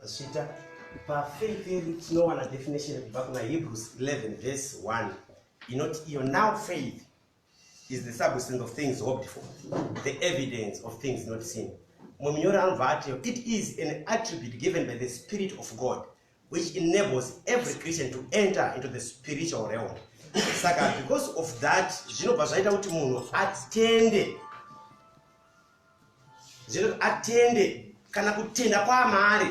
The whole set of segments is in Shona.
Vazviita pafaith yedu tinowana definition kubva kuna hebrews 11 verse 1 inoti iyo now faith is the substance of things hoped for the evidence of things not seen mumwe munyori anobva ati it is an attribute given by the spirit of god which enables every christian to enter into the spiritual realm saka because of that zvinobva zvaita kuti munhu atende zvekuti atende kana kutenda kwaamari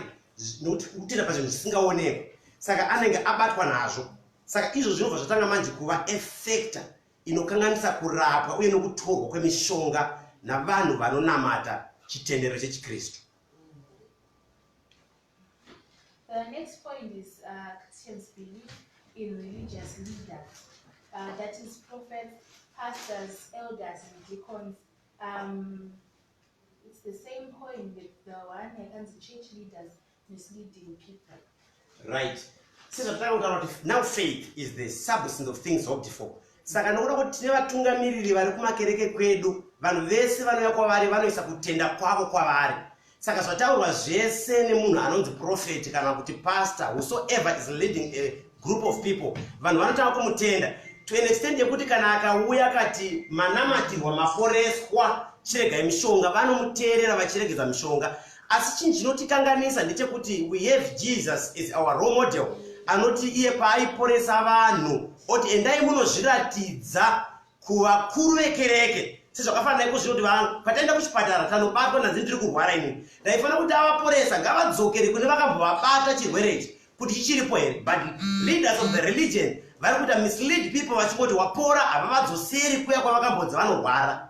nokuti kutenda pazvinhu zvisingaonekwa saka anenge abatwa nazvo saka izvo zvinobva zvatanga manje kuva efector inokanganisa kurapwa uye nokutorwa kwemishonga navanhu vanonamata chitendero chechikristu The next point is uh, Christians believe in religious leaders, uh, that is prophets, pastors, elders, and deacons, Um, it's the same point that the one yakanzi church leaders misleading people. Right. Sezvatanga kutaura kuti now faith is the substance of things hoped for. Saka nokuda kuti tine vatungamiriri vari kumakereke kwedu, vanhu vese vanouya kwavari vanoisa kutenda kwavo kwavari. Saka zvataurwa zvese nemunhu anonzi prophet kana kuti pastor whosoever is leading a group of people vanhu vanotanga kumutenda to an extent yekuti kana akauya akati manamatirwa maporeswa chiregai mishonga vanomuteerera vachiregedza mishonga asi chinhu chinotikanganisa ndechekuti we have jesus is our role model anoti iye paaiporesa vanhu oti endai munozviratidza kuvakuru vekereke sezvakafanira iko zvino kuti vangu pataenda kuchipatara tanobatwa ndanzi ndiri kurwara ini ndaifanira kuti avaporesa ngavadzokere kune vakambovabata chirwere ichi kuti chichiripo here but leaders of the religion vari kuita mislead people vachingoti wapora havavadzoseri kuya kwavakambodzi vanorwara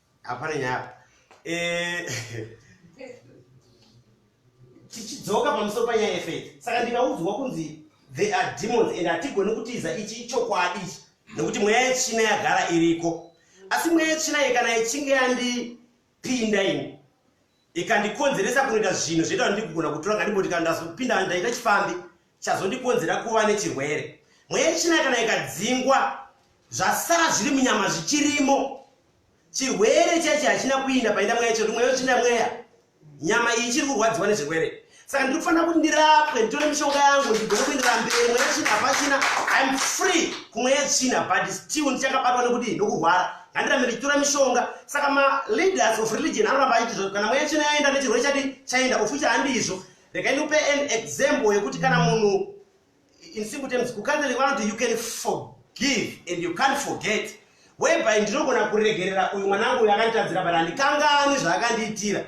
hapana nyaya apa eh, tichidzoka pamusoro panyaya yefeti saka ndikaudzwa kunzi they are demons and hatigoni kutiza ichi ichokwadi ichi nekuti mweya yetsvina yagara iriko asi mweya yetsvina iyi kana ichinge yandipinda ini ikandikonzeresa kunoita zvinhu zvoita kuti ndigona kutora ngandiboti kana ndazopinda ndaita chifambi chazondikonzera kuva nechirwere mweya yechina kana ikadzingwa zvasara zviri munyama zvichirimo chirwere chaichi hachina kuinda painda mweya chekuti mweya uchinda mweya nyama iyi ichiri kurwadziwa nezvirwere saka ndiri kufanira kuti ndirapwe nditore mishonga yangu ndigone kuenderera mberi mweya yetsvina hapachina iam free kumweya yetsvina but still ndichakabatwa nekuti nokurwara handirambe ndichitora mishonga saka maleaders of religion anoramba achiitizvo kana mweya yetsvina yaenda nechirwere chati chaenda ofucha handizvo rega ndikupe an example yekuti kana munhu in simple terms kucatholic vanoti you can forgive and you can't forget whereby ndinogona kuregerera uyu mwana wangu uyu akanditadzira but handikanganwi zvaakandiitira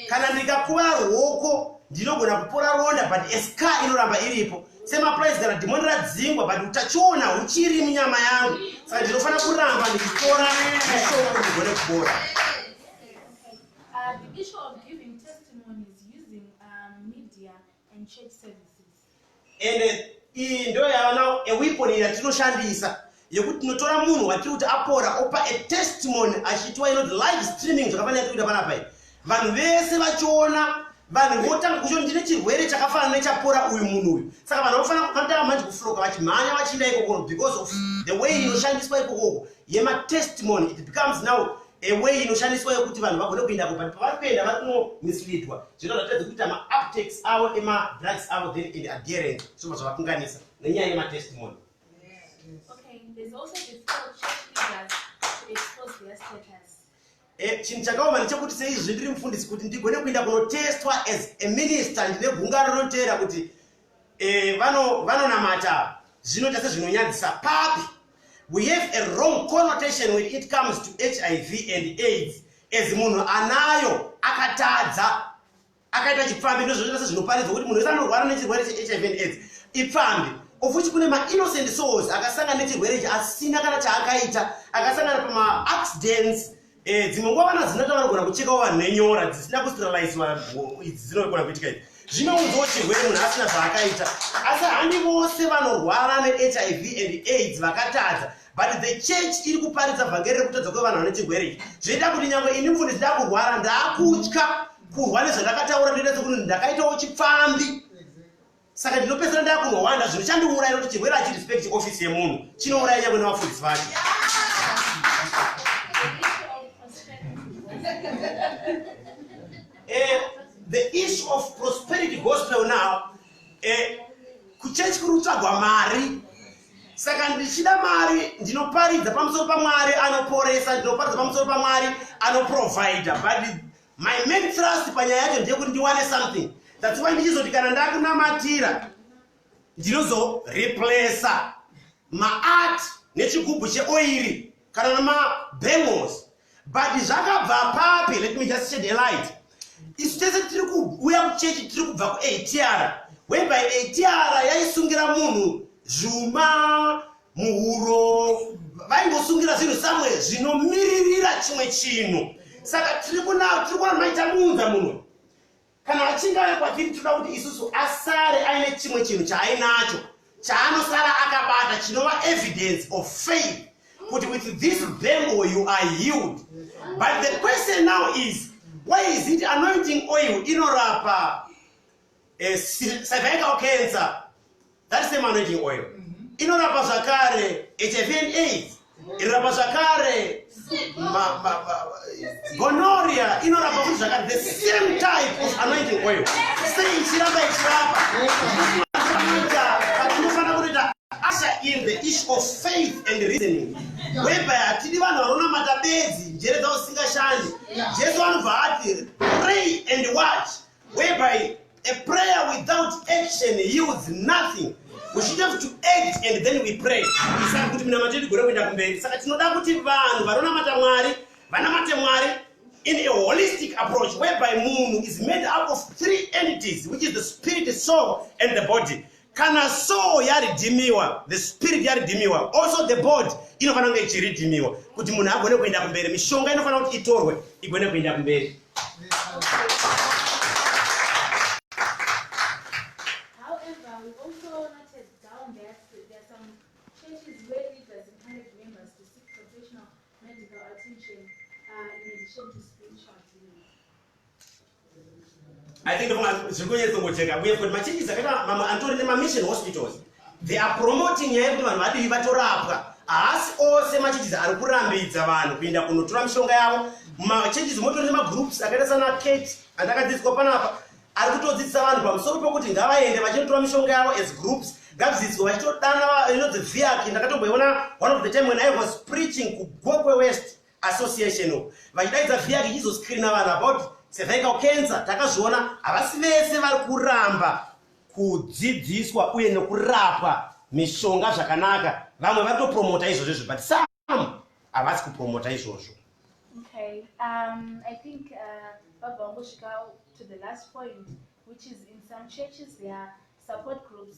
kana ndikakuva rwoko ndinogona kupora ronda but eska inoramba iripo semaprice kana dhimoni radzingwa but utachiona huchiri munyama yangu saka ndinofanira kuramba ndichitora mishoko ndigone kubora and church services. And uh, iyi ndo yava now a weapon yatinoshandisa yekuti tinotora munhu watiri kuti apora opa a testimony achiitwa inoti live streaming zvakafanira tikuita panapa iyi vanhu vese vachiona vanhu votanga kucho ndine chirwere chakafanana nechapora uyu munhu uyu saka vanhu vanofanira kukatanga manje kufloka vachimhanya vachiinda ikokoro because of the way inoshandiswa ikokoko yematestimony it becomes now a way inoshandiswa yokuti vanhu vagone kuendako but pavari kuenda vari kuno misleadwa zvino zvatadzi kuita maaptex avo emadrugs avo then and adherent zvobva zvavakunganisa nenyaya yematestimony eh, chinhu chakaoma ndechekuti seizvi ndiri mufundisi kuti ndigone kuenda kunotestwa as a minister ndine gungano rinoteera kuti eh, vanonamata vano zvinoita sezvinonyadzisa papi we have a wrong connotation when it comes to hiv and aids as munhu anayo akatadza akaita chipfambi ndozvinoita sezvinoparidzwa kuti munhu wese anorwara nechirwere chehiv and aids ipfambi ofuti kune mainnocent souls akasangana nechirwere ichi asina kana chaakaita akasangana pamaaccidents Eh, dzimwe nguva vana zinata vanogona kuchekawo vanhu nenyora dzisina kusteriliziwa idzi dzinogona kuitika idzi zvinounzawo chirwere munhu asina zvaakaita asi handi vose vanorwara nehiv and aids vakatadza but the church iri kuparidza vhangeri rekutadza kwevanhu vane chirwere ichi zvoita kuti nyangwe ini mfundi zida kurwara ndaakutya kurwa nezvandakataura ndoita sekuti ndakaitawo chipfambi saka ndinopedzera ndakunohwanda zvinhu chandiuraya kuti chirwere achirespect office yemunhu chinouraya nyangwe nevafundisi vacho eh, the issue of prosperity gospel now eh, kuchechi kuri kutsvagwa mari saka ndichida mari ndinoparidza pamusoro pamwari anoporesa ndinoparidza pamusoro pamwari anoprovida but My main thrust panyaya yacho ndeyekuti ndiwane something that's why ndichizoti kana ndakunamatira ndinozo replacer maart nechigubhu cheoiri kana nemabangles but zvakabva papi let me just shed a light isu tese tiri kuuya kuchechi tiri kubva kuatr whereby atr yaisungira munhu zvuma muhuro vaingosungira zvinhu samwe zvinomiririra chimwe chinhu saka tiri kunao tiri kuona maita muunza muno kana vachinge vave kwatiri tinoda kuti isusu asare aine chimwe chinhu chaainacho chaanosara akabata chinova evidence of faith kuti with this bembo you are healed but the question now is why is it anointing oil inorapa eh, cervical cancer that same anointing oil mm-hmm. inorapa zvakare hiv and aids inorapa zvakare gonoria inorapa kuti zvakare the same type of anointing oil sei ichiramba ichirapa in the issue of faith and reasoning whereby hatidi vanhu vanonamata bedzi njere dzavo dzisingashandi jesu anobva ati pray and watch whereby a prayer without action yields nothing we should have to act and then we pray saka kuti minamato yedu gore kuenda kumberi saka tinoda kuti vanhu vanonamata mwari vanamate mwari in a holistic approach whereby munhu is made up of three entities which is the spirit soul and the body Kana soul yaridhimiwa, the spirit yaridhimiwa, also the body inofanira kunge ichiridhimiwa kuti munhu agone kuenda kumberi. Mishonga inofanira kuti itorwe igone kuenda kumberi. I think zviri kunyatso ngojeka uye futi machinjisi akaita mamwe anotori nemamission hospitals they are promoting nyaya yekuti vanhu vadii vatorapwa haasi ose machinjisi ari kurambidza vanhu kuinda kunotora mishonga yavo machinjisi motori nemagroups akaita sana kate andakadzidziswa panapa ari kutodzidzisa vanhu pamusoro pekuti ngavaende vachinotora mishonga yavo as groups ngadzidziswa vachitodana inonzi viaki ndakatomboiona one of the time when i was preaching kugokwe west Association uko vachidaidza via richizoscreena vanhu about cervical cancer takazviona havasi vese vari kuramba kudzidziswa uye nekurapwa mishonga zvakanaka vamwe vari topromota izvozvo izvo but some havasi kupromota izvozvo okay. um, i think uh, vabva vangosvika to the last point which is in some churches there are support groups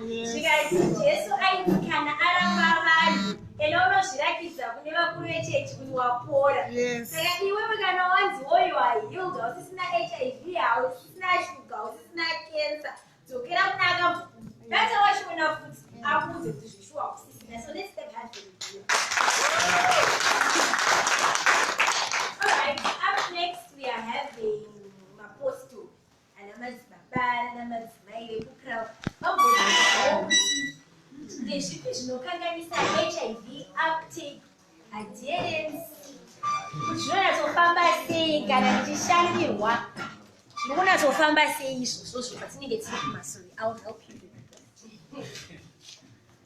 zvikanzi jesu aiti kana aramba vanhu ena unozvirakidza kune vakuru vechechi kuti wapora saka iwewe kana wanzi woyo hahild hausisina hiv hausisina shuga hausisina kensa dzokera kuna akamu data wachiona futi akuudze kuti zvishuwa kusisina so let's step hard for the deal ana madzibaba nana madzimai vekukra vambozivawo kuti ndezvipi zvinokanganisa hiv uptake adherence kuti zvinonatsofamba sei kana ndichishandirwa zvinokunatsofamba sei izvozvo zvopatinenge tiri kumasori ill help you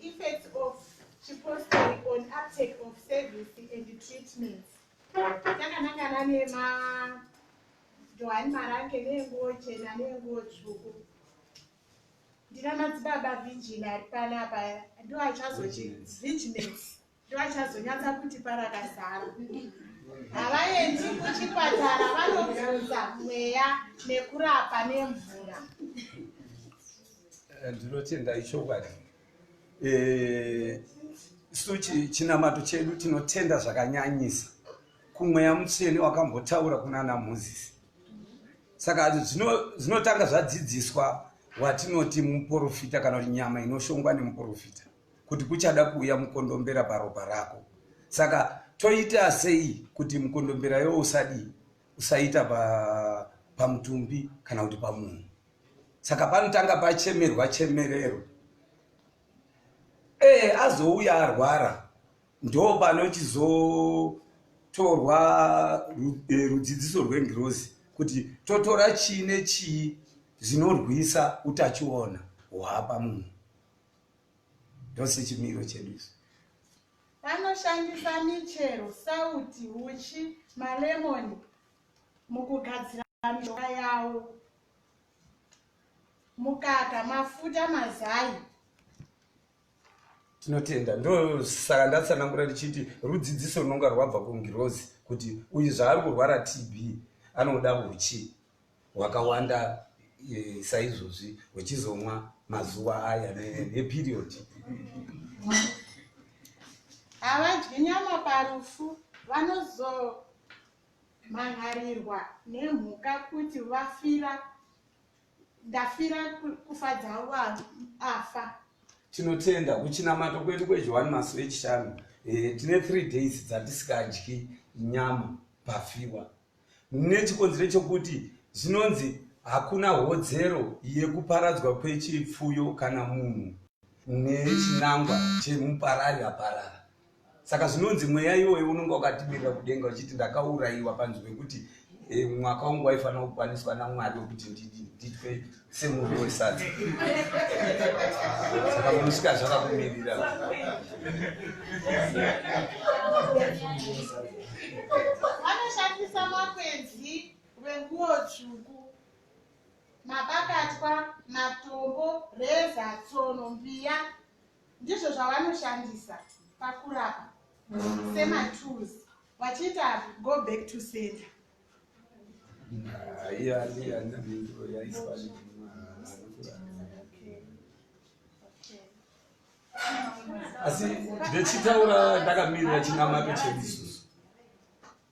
Effects of chipostori on uptake of service and treatments. Takanangana nema Johani Marange nenguwo chena nenguwo tsvuku. Ndina madzibaba Virgin ari panapa ndiwo achazochi Virginets. ndovachazonyatsa kuti parakazara havaendi kuchipatara vanobvunza mweya nekurapa nemvura eh, ndinotenda ichokwadi eh, isu chinamato chedu tinotenda zvakanyanyisa kumweya mutsvene wakambotaura kunana mozisi saka zvinotanga zvadzidziswa watinoti muporofita kana kuti nyama inoshongwa nemuporofita kuti kuchada kuuya mukondombera paropa rako saka toita sei kuti mukondombera yo usadii usaita pamutumbi pa kana kuti pamunhu saka panotanga pachemerwa chemerero ee eh, azouya arwara ndo panochizotorwa eh, rudzidziso rwengirozi kuti totora chii nechii zvinorwisa utachiona hwapa munhu ndose chimiro chedu isu vanoshandisa michero sauti uchi malemoni mukugadzira mishonga yavo mukaka mafuta mazai tinotenda ndosaka ndatsanangura ndichiti rudzidziso runonga rwabva kungirozi kuti uyu zvaari kurwara tb anoda uchi hwakawanda e, saizvozvi hwechizomwa mazuva aya neperiod havadyi nyama parufu vanozomhan'arirwa nemhuka kuti vafira ndafira kufa dzavo afa tinotenda kuchinamato kwedu kwejohani masu echishanu e, tine three days dzatisikadyi nyama pafiwa nechikonzero chokuti zvinonzi hakuna hodzero yekuparadzwa kwechipfuyo kana munhu nechinangwa chemuparari aparara saka zvinonzi mweya iwoyo unonga wakatimirira kudenga uchiti ndakaurayiwa panzwi wekuti eh, mwaka wangu waifanira kukwaniswa namwari wekuti nditwe semurwi wesadza saka munosvika zvakakumirira vanoshandisa makwenzi rwenguo tsvuku mabakatwa matombo reza tsono mbiya ndizvo zvavanoshandisa pakurapa sematools vachiita go back to center asi ndichitaura ndakamirira chinamato chedu isusu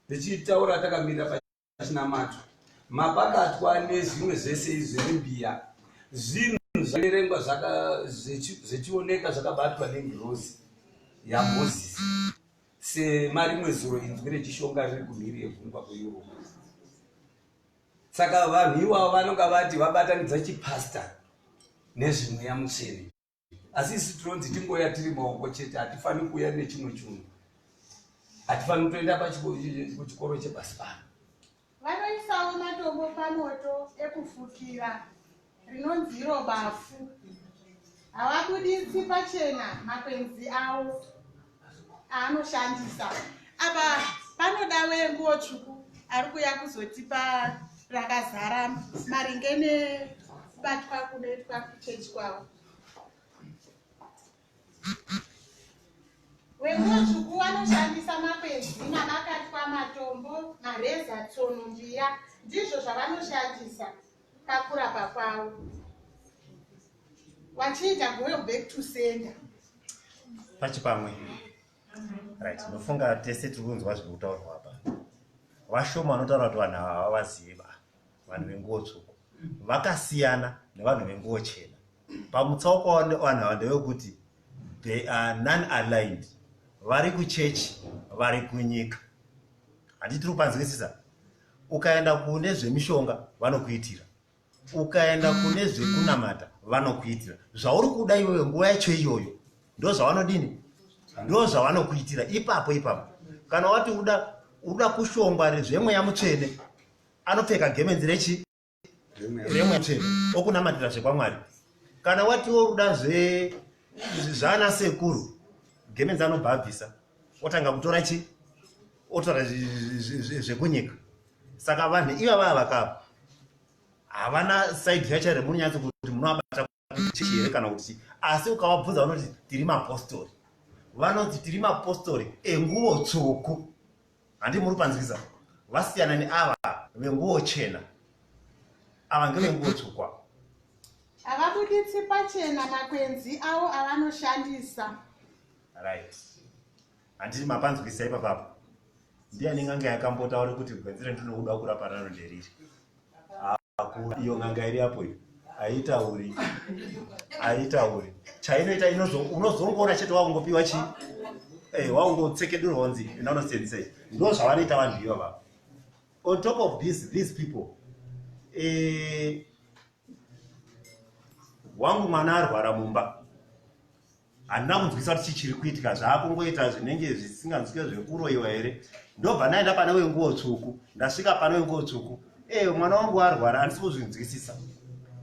ndichitaura takamirira pachinamato mapakatwa nezvimwe zvese izvi zvembiya zvinhu zvaverengwa zvichioneka zvakabatwa nengirozi yamozisi Semarimwe zuro inzwi rechishonga riri kumhiri yegungwa kuEurope. Saka vanhu iwavo vanonga vati vabatanidza chipastor nezvemweya mutsvene. Asi isu tinonzi tingoya tiri maoko chete, hatifaniri kuuya nechimwe chunhu. Hatifaniri kutoenda kuchikoro chepasi pano. Vanoisawo matombo pamoto ekufukira rinonzi iro bafu. Havabuditsi pachena makwenzi avo aanoshandisa. Apa panoda wenguwo tsvuku ari kuya kuzotipa rakazara maringe nekubatwa kunoitwa kuchechi kwavo. Wemudzvuku vanoshandisa makwenzi mavakatwa matombo, mareza, tsono, mbiya ndizvo zvavanoshandisa pakurapa kwavo vachiita going back to sender pachipamwe right ndofunga tese tiri kunzwa zviri kutaurwa apa vashoma vanotaura kuti vanhu ava havazivi vanhu venguo tsvuku vakasiyana nevanhu venguo chena pamutsauko wavanhu ava ndevekuti they are non aligned vari kuchechi vari kunyika handi tiri kupanzwisisa ukaenda kune zvemishonga vanokuitira ukaenda kune zvekunamata vanokuitira zvauri kuda iwewe nguva yacho iyoyo ndo zvavanodini ndo zvavanokuitira ipapo ipapo kana wati uda uda kushongwa rezvemweya mutsvene anopfeka gemenzi rechi remweche okunamatira zvekwamwari kana watiwo ruda zve zvana sekuru gemenzi anobva abvisa otanga kutora chi otora zvekunyika saka vanhu iva vava vakapa havana side yacho remunyatsi kuti munoabata chechi here kana kuti chii asi ukavabvunza vanoti tiri mapostori vanoti tiri mapostori enguvo tsvuku handi muri panzwiza vasiyana neava venguvo chena ava ngevenguvo tsvuku ava havabuditsi pachena makwenzi avo avanoshandisa right handiti mapanzwisa ipapapo ndiani nganga yakambotaura kuti gwenzi rendinokuda kurapa raro nderiri iyo n'anga iri apo iyo haitauri haitauri chainoita unozongoona chete wakungopiwa chii eh, waungotsekedurwa unzi nonsense eh, ndo zvavanoita vanhu iva vava on top of this these people eh, wangu mwana arwara mumba handina kunzwisa kuti chichiri kuitika zvaakungoita zvinenge zvisinganzwike zvekuroyiwa here ndobva ndaenda pane wenguo tsvuku ndasvika pane wenguo tsvuku ee mwana wangu arwara handisi kuzvinzwisisa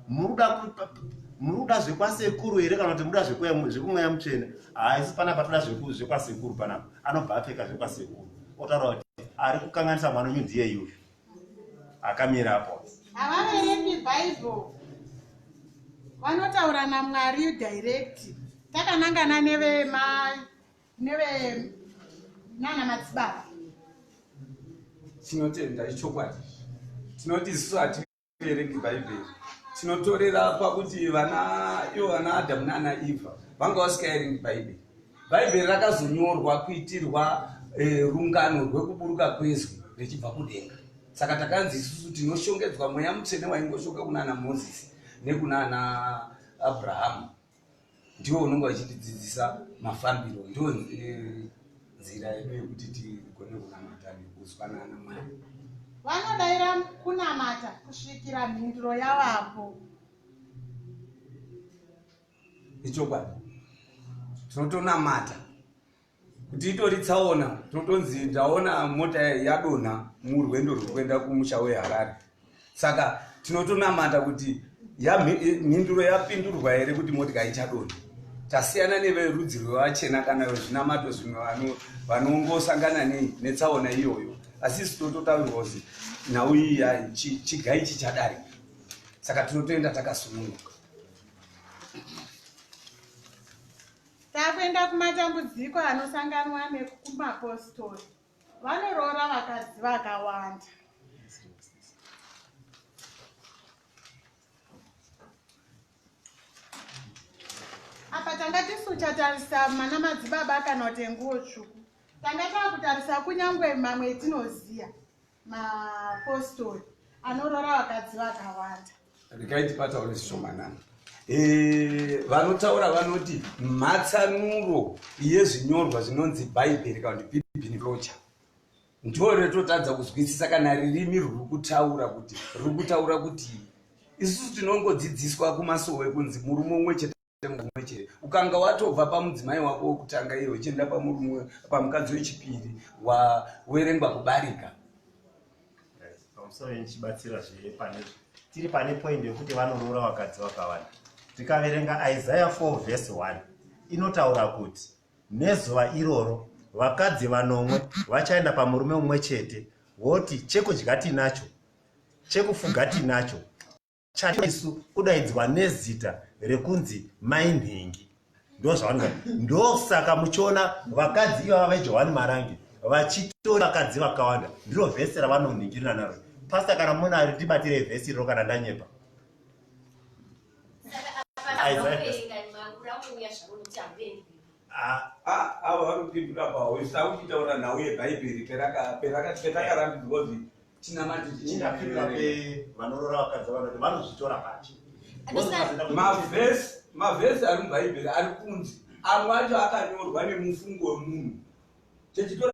muri kuda zvekwasekuru here kana kuti muda zvekumweya mutsvene haisi pana patoda zvekwasekuru panapa anobva apfeka zvekwasekuru otaura kuti ari kukanganisa mwana wenyu ndiye yuyu akamira apo havaverengi bible vanotaura namwari direct takanangana nevema neve nana madzibaba tinotenda ichokwadi tinoti isu hati tiverengi bhaibheri tinotorera pakuti vana ivo vana adamu naana ivha vanga vasikaerengi bhaibheri bhaibheri rakazonyorwa kuitirwa eh, rungano rwekuburuka kwezwi richibva kudenga saka takanzi isusu tinoshongedzwa mweya mutsvene waingoshoka kunaana mozisi nekunaana abrahamu ndiwo unenge wachitidzidzisa mafambiro ndiwo eh, nzira yedu yekuti tigone kunamata nekuzwanana mwari vanodaira kunamata kusvikira mhinduro yavapo ichokwadi tinotonamata kuti itori tsaona totonzi ndaona mota yadonha murwendo rwekuenda kumusha weharare saka tinotonamata kuti mhinduro yapindurwa here kuti motika ichadonha tasiyana neverudzi rwevachena kana vezvinamato zvimwe vanongosangana netsaona iyoyo asi isi tototaurwa kuti nhau iyi yai chigai chichadarika saka tinotoenda takasununguka Takuenda kumatambudziko anosanganwa nekumapostori. Vanoroora vakadzi vakawanda. Apa tanga tisu tatarisa mana madzibaba kana kuti nguwo tsvuku. Tanga takutarisa kunyangwe mamwe etinoziya. mapostori anorora vakadzi vakawanda regai tipataure zvishomanana Eh, vanotaura vanoti mhatsanuro yezvinyorwa zvinonzi bhaibheri kana kuti bibini rocha ndo retotadza kuzwisisa kana ririmi ruri kutaura kuti riri kutaura kuti isusu tinongodzidziswa kumasowe kunzi murume umwe chete mumwe chete ukanga watobva pamudzimai wako wekutanga iye uchienda pamurume pamukadzi wechipiri wawerengwa kubarika pamusoro ndichibatsira zve pane tiri pane poindi yekuti vanoroora vakadzi vakawanda tikaverenga isaya 4 vhesi 1 inotaura kuti nezuva iroro vakadzi vanomwe vachaenda pamurume umwe chete voti chekudya tinacho chekufuga tinacho chaisu kudaidzwa nezita rekunzi mai nhingi ndozvavanonga ndosaka muchiona vakadzi ivava vejohani marangi vachitora vakadzi vakawanda ndiro vhesi ravanonhingirirana naro pasta kana muna ari tibatire vhesi iriro kana ndanyepa Ah, ava vanopindura pahwese akuchitaura nhau yebhaibheri perakatikarambidzwa kuti tinamati tichindapindura pe vanorora vakadzi vanoti vanozvitora pati mavhesi mavhesi ari mubhaibheri ari kunzi amwe acho akanyorwa nemufungo wemunhu techitora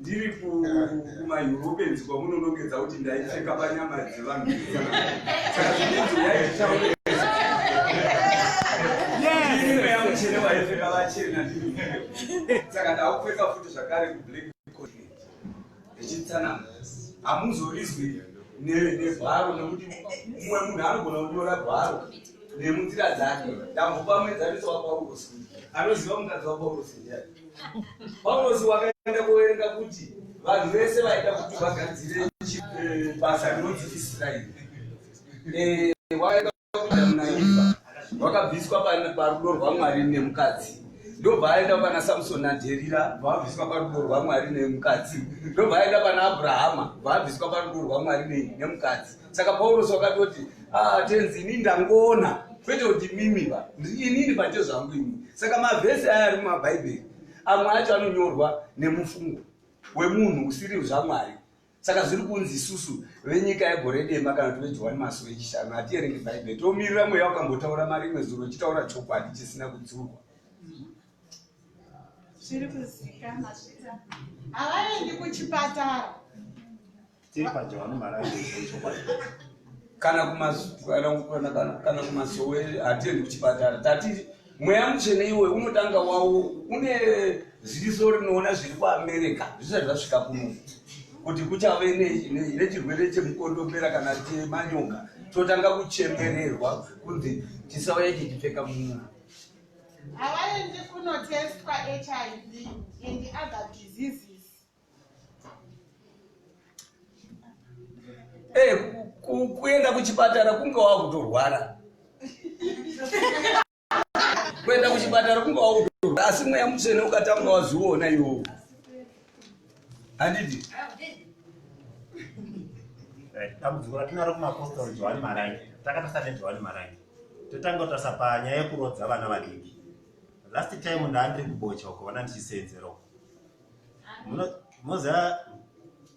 ndiri kumaeuropeans kwamunonongedza kuti ndaipfeka panyama dzevanhu chene waipfeka vachena saka ndakupfeka futi zvakare kublack continent ndichitsanana hamuzorizwi nevharo nekuti mumwe munhu anogona kunyora vharo nemunzira dzake ndambopa muenzaniso wapaurosi anoziva mukadzi wapaurosi ndiani Paulosi wakaenda kuverenga kuti vanhu vese vaida kuti vagadzire eh, basa rinonzi Israeri. Eh, wakaenda kuda munaIva, wakabviswa parudo rwaMwari nemukadzi. Ndobva aenda pana Samson naDherira, vaabviswa parudo rwaMwari nemukadzi. Ndobva aenda pana Abrahama, vaabviswa parudo rwaMwari nemukadzi. saka paurosi wakatoti ah, tenzi ini ndangoona kwete kuti mimi va inini pate zvangu ini saka mavhesi aya ari mumabhaibheri amwe acho anonyorwa nemufungo wemunhu usiri zvamwari saka zviri kunzi isusu venyika yegore dema kana kuti vejohani masuo echishanu hatierenge bhaibheri tomirira mweya wakambotaura mari imwe zuro chitaura chokwadi chisina kudzurwa zviri kuzikana zvita havaendi kuchipatara tiri panje vano marayo chokwadi kana kumakana kumasowe hatiendi kuchipatara tati mweya muchene iwe unotanga wawo une ziso rinoona zviri kuamerica zvisati zvasvika kuno kuti kuchave nechirwere chemukondombera kana chemanyoka totanga kuchemererwa kunzi chisauya chichipfeka munhu havaendi kunotestwa hiv and other diseases Hey, eh, kuenda kuchipatara kunge wava kutorwara kuenda kuchipatara kunge wava kutorwara asi mweya mutsvene ukatanga wazviona iwowo handiti eh, dambudziko ratinaro kumapostori johani marangi takatasa nejohani marangi totanga kutasa panyaya yekurodza vana vadiki last time ndaandiri kubocha uko vana ndichisenzera uko moziva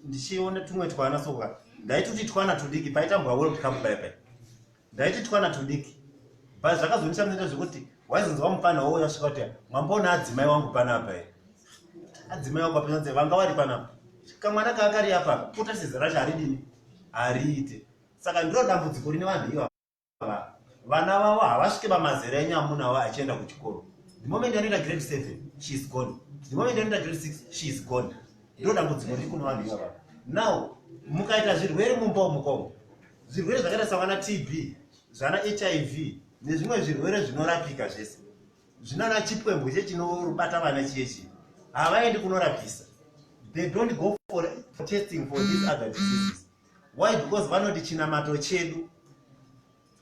ndichiona tumwe twana soka ndaitoti twana tudiki paitambwa world cup pai pai ndaiti twana tudiki but zvakazondishamisa zvekuti waizonzwa mupana wo yasvika kuti mwamboona adzimai wangu panapa e adzimai wangu apinanze vanga vari panapa kamwana kaakariya papa kuta sizera charidini hariite saka ndiro dambudziko rine vanhu iva vana vavo havasvike pamazera enyu amuna wavo achienda kuchikoro the moment anoita grade seven she is gone the moment anoita grade six she is gone ndo dambudziko riri kuno vanhu ivava now mukaita zvirwere mumba umukomo zvirwere zvakaita savana tb zvana hiv nezvimwe zvirwere zvinorapika zvese zvinana chipwembwe che chinobata vana chiye chii havaendi kunorapisa they don't go for testing for these other diseases why because vanoti chinamato chedu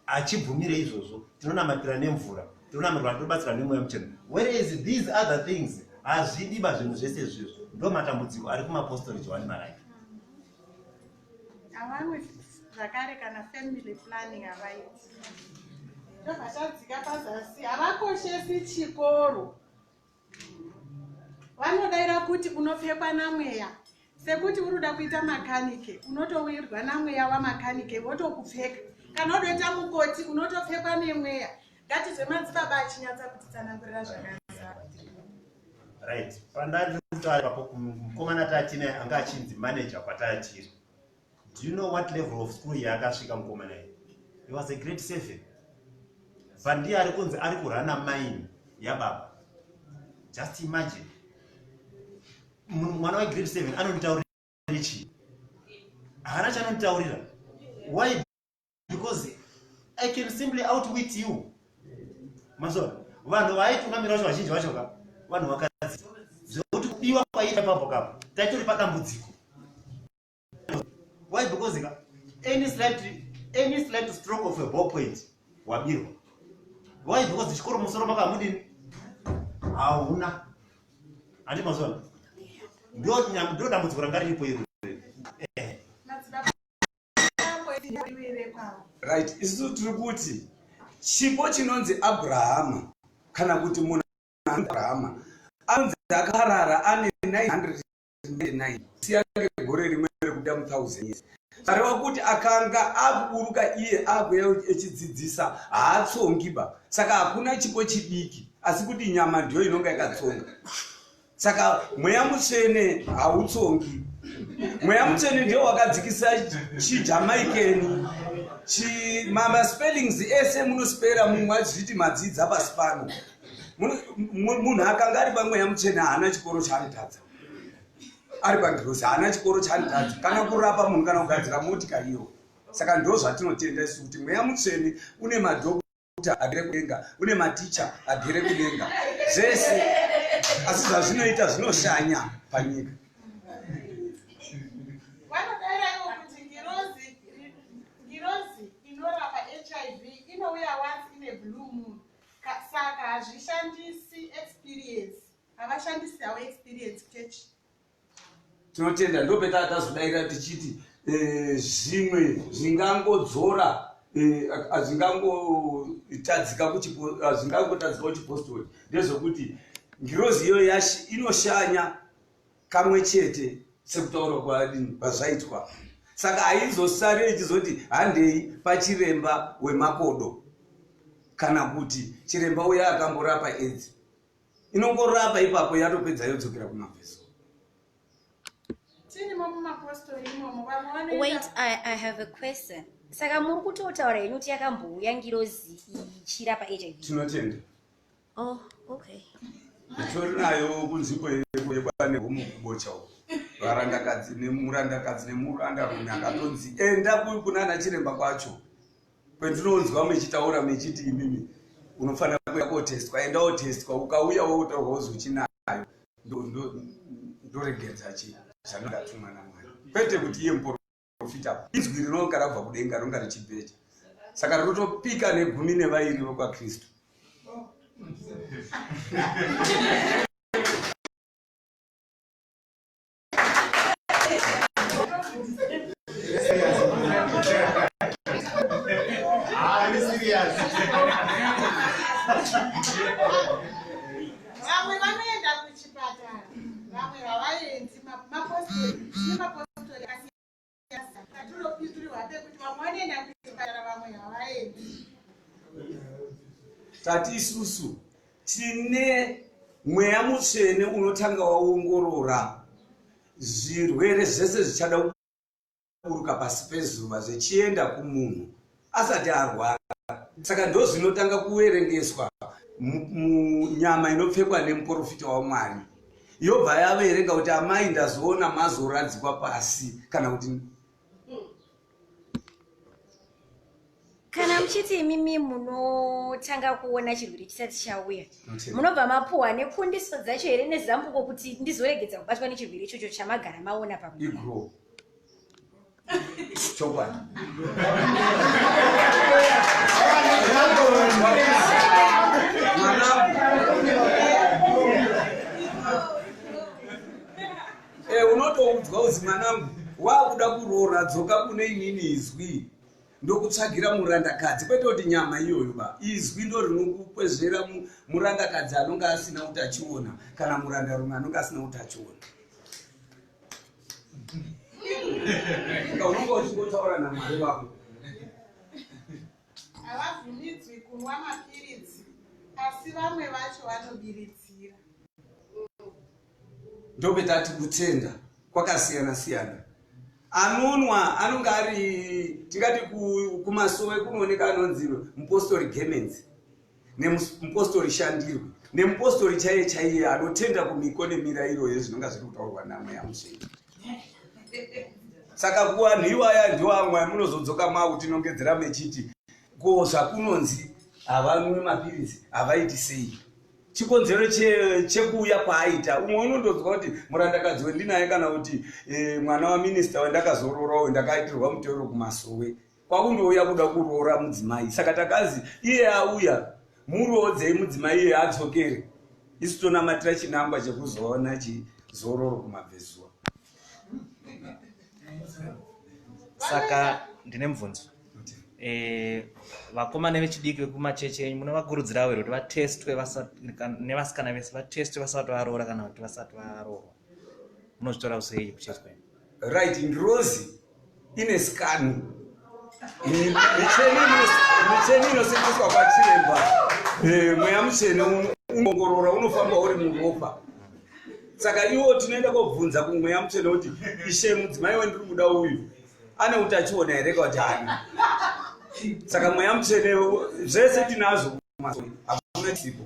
hachibvumire izvozvo tinonamatira nemvura tinonamirwa tinobatsirwa nemweya muchena whereas these other things hazvidiba zvinhu zvese zvizvo ndo matambudziko ari kumapostori johani marai zvakare kana family planning havaiti ndobva tadzika pazasi havakoshesi chikoro vanodaira kuti unopfekwa namweya sekuti uri kuda kuita makanike unotowirwa namweya wamakanike votokupfeka kana udoita mukoti unotopfekwa nemweya ngatizve madzibaba achinyatsa kutitsanangurira zvakanaka right pandari kutaura ipapo mukomana tatine anga achinzi manager kwatari tiri do you know what level of school yaakasvika mukomana iyi he was a great seven but ndiye ari kunzi ari kurana maini yababa just imagine mwana wegrade seven anonditaurira chii haana chanonditaurira why because i can simply outwit you mazona vanhu vaitungamira vacho vazhinji vacho ka vanhu vakadzi zvekuti kubiwa kwaiita papo kapo taitori padambudziko why because ka any slight any slight stroke of a ball point wabirwa why because chikoro musoro makamudini hauna handi mazona ndo dambudziko ranga riripo iri eh. right isu tiri kuti chipo chinonzi abrahama kana kuti munhu abrahama anonzi akarara ane 900 1999 siyange gore rimwe rekuda muthousand years areva kuti akanga akuburuka iye akuya echidzidzisa haatsongi ba saka hakuna chipo chidiki asi kuti nyama ndiyo inonga yakatsonga saka mweya mutsvene hautsongi mweya mutsvene ndiyo wakadzikisa chijamaikeni mamaspellings ese munospera mumwe achizviti madzidza pasi pano munhu akanga ari pamweya mutsvene haana chikoro chaanotadza ari pagirosi haana chikoro chaanotadza kana kurapa munhu kana kugadzira motika iyo saka ndo zvatinotenda isu kuti mweya mutsvene une madhokuta agere kudenga une maticha agere kudenga zvese asi zvazvinoita zvinoshanya panyika saka hazvishandisi experience havashandisi havo experience kuchechi tinotenda ndopeta atazodaira tichiti eh, zvimwe zvingangodzora hazvingangotadzika eh, kuchipozvingangotadzika kuchipostori ndezvokuti ngirozi iyoyo yashi inoshanya kamwe chete sekutaura kwadini kwazvaitwa saka haizosare ichizoti handei pachiremba wemakodo kana kuti chiremba uya akamborapa edzi inongorapa ipapo yatopedza yodzokera kumabviso wait I, i have a question saka muri kutotaura henyu kuti yakambouya ngirozi ichirapa hiv tinotenda Oh, okay. Nditori nayo kunzvimbo yekwane homo kubocha uko. Varandakadzi nemurandakadzi nemuranda rume akatonzi enda kuyu kuna ana chiremba kwacho. Kwendinonzwa mechitaura mechiti imimi unofanira kuya kotestwa enda otestwa ukauya wotaurwa wozochinayo ndoregedza chi zvanondatumwa namwari kwete kuti iye muporo profita izwi rinonga rabva kudenga rinonga richibheja saka rinotopika negumi nevairi vokwakristu tati isusu tine mweya mutsvene unotanga waongorora zvirwere zvese zvichada kuburuka pasi pezuva zvichienda kumunhu asati arwara saka ndozvinotanga kuverengeswa munyama inopfekwa nemuporofita wamwari yobva yaverenga kuti amai ndazoona mazoradzikwa pasi kana kuti kana muchiti imimi munotanga kuona chirwere chisati chauya munobva mapuhwa nekundiso dzacho here nezambuko kuti ndizoregedza kubatwa nechirwere ichocho chamagara maona pamuigro chokwadi eh, unotoudzwa uzi mwanangu waakuda kuroora dzoka kune inini izwi ndokutsvagira murandakadzi kwete kuti nyama iyoyo ba izwi ndo rinokukwezvera murandakadzi anonge asina kuti achiona kana murandarume anonge asina kuti achiona nga unonge uchingotaura namwari vako havabvumidzwi kunwa mapiritsi asi vamwe vacho vanobiritsira ndopetati kutenda kwakasiyana siyana anonwa anonge ari tingati kumasowe kunooneka anonzi mupostori gemenzi nemupostori shandirwe nemupostori chaiye chaiye anotenda kumiko nemirairo yezvinonga zviri kutaurwa namweya musveni saka kuvanhu iwaya ndiwamwaya munozodzoka mautinongedzera mechiti ko zvakunonzi havanwe mapiritsi havaiti sei chikonzero che- chekuuya kwaaita umwe unondonzwa kuti murandakadzi wendinaye kana kuti eh, mwana waminista wendakazoroora uyu ndakaitirwa muteuro kumasowe kwakundouya kuda kuroora mudzimai saka takanzi iye auya muroodzei mudzimai iye adzokere isu tonamatira chinangwa chekuzoona chizororo kumabvezuva saka ndine mubvunzo Eh, vakomana vechidiki vekumachechi enyu munovakurudzirawo here kuti vatestwe nevasikana vese vatestwe vasati varoora kana kuti vasati varoorwa munozvitora kusei kuchechi kwenyu right ngirozi ine sikani micheni inoseenzeswa pachiremba eh, mweya muchene unoongorora unofamba uri muropa saka iwo tinoenda kobvunza kumweya muchene kuti ishe mudzimai wendiri muda uyu ane utachiona here kati haana saka mweya mutsvene zvese tinazvo hakuna chipo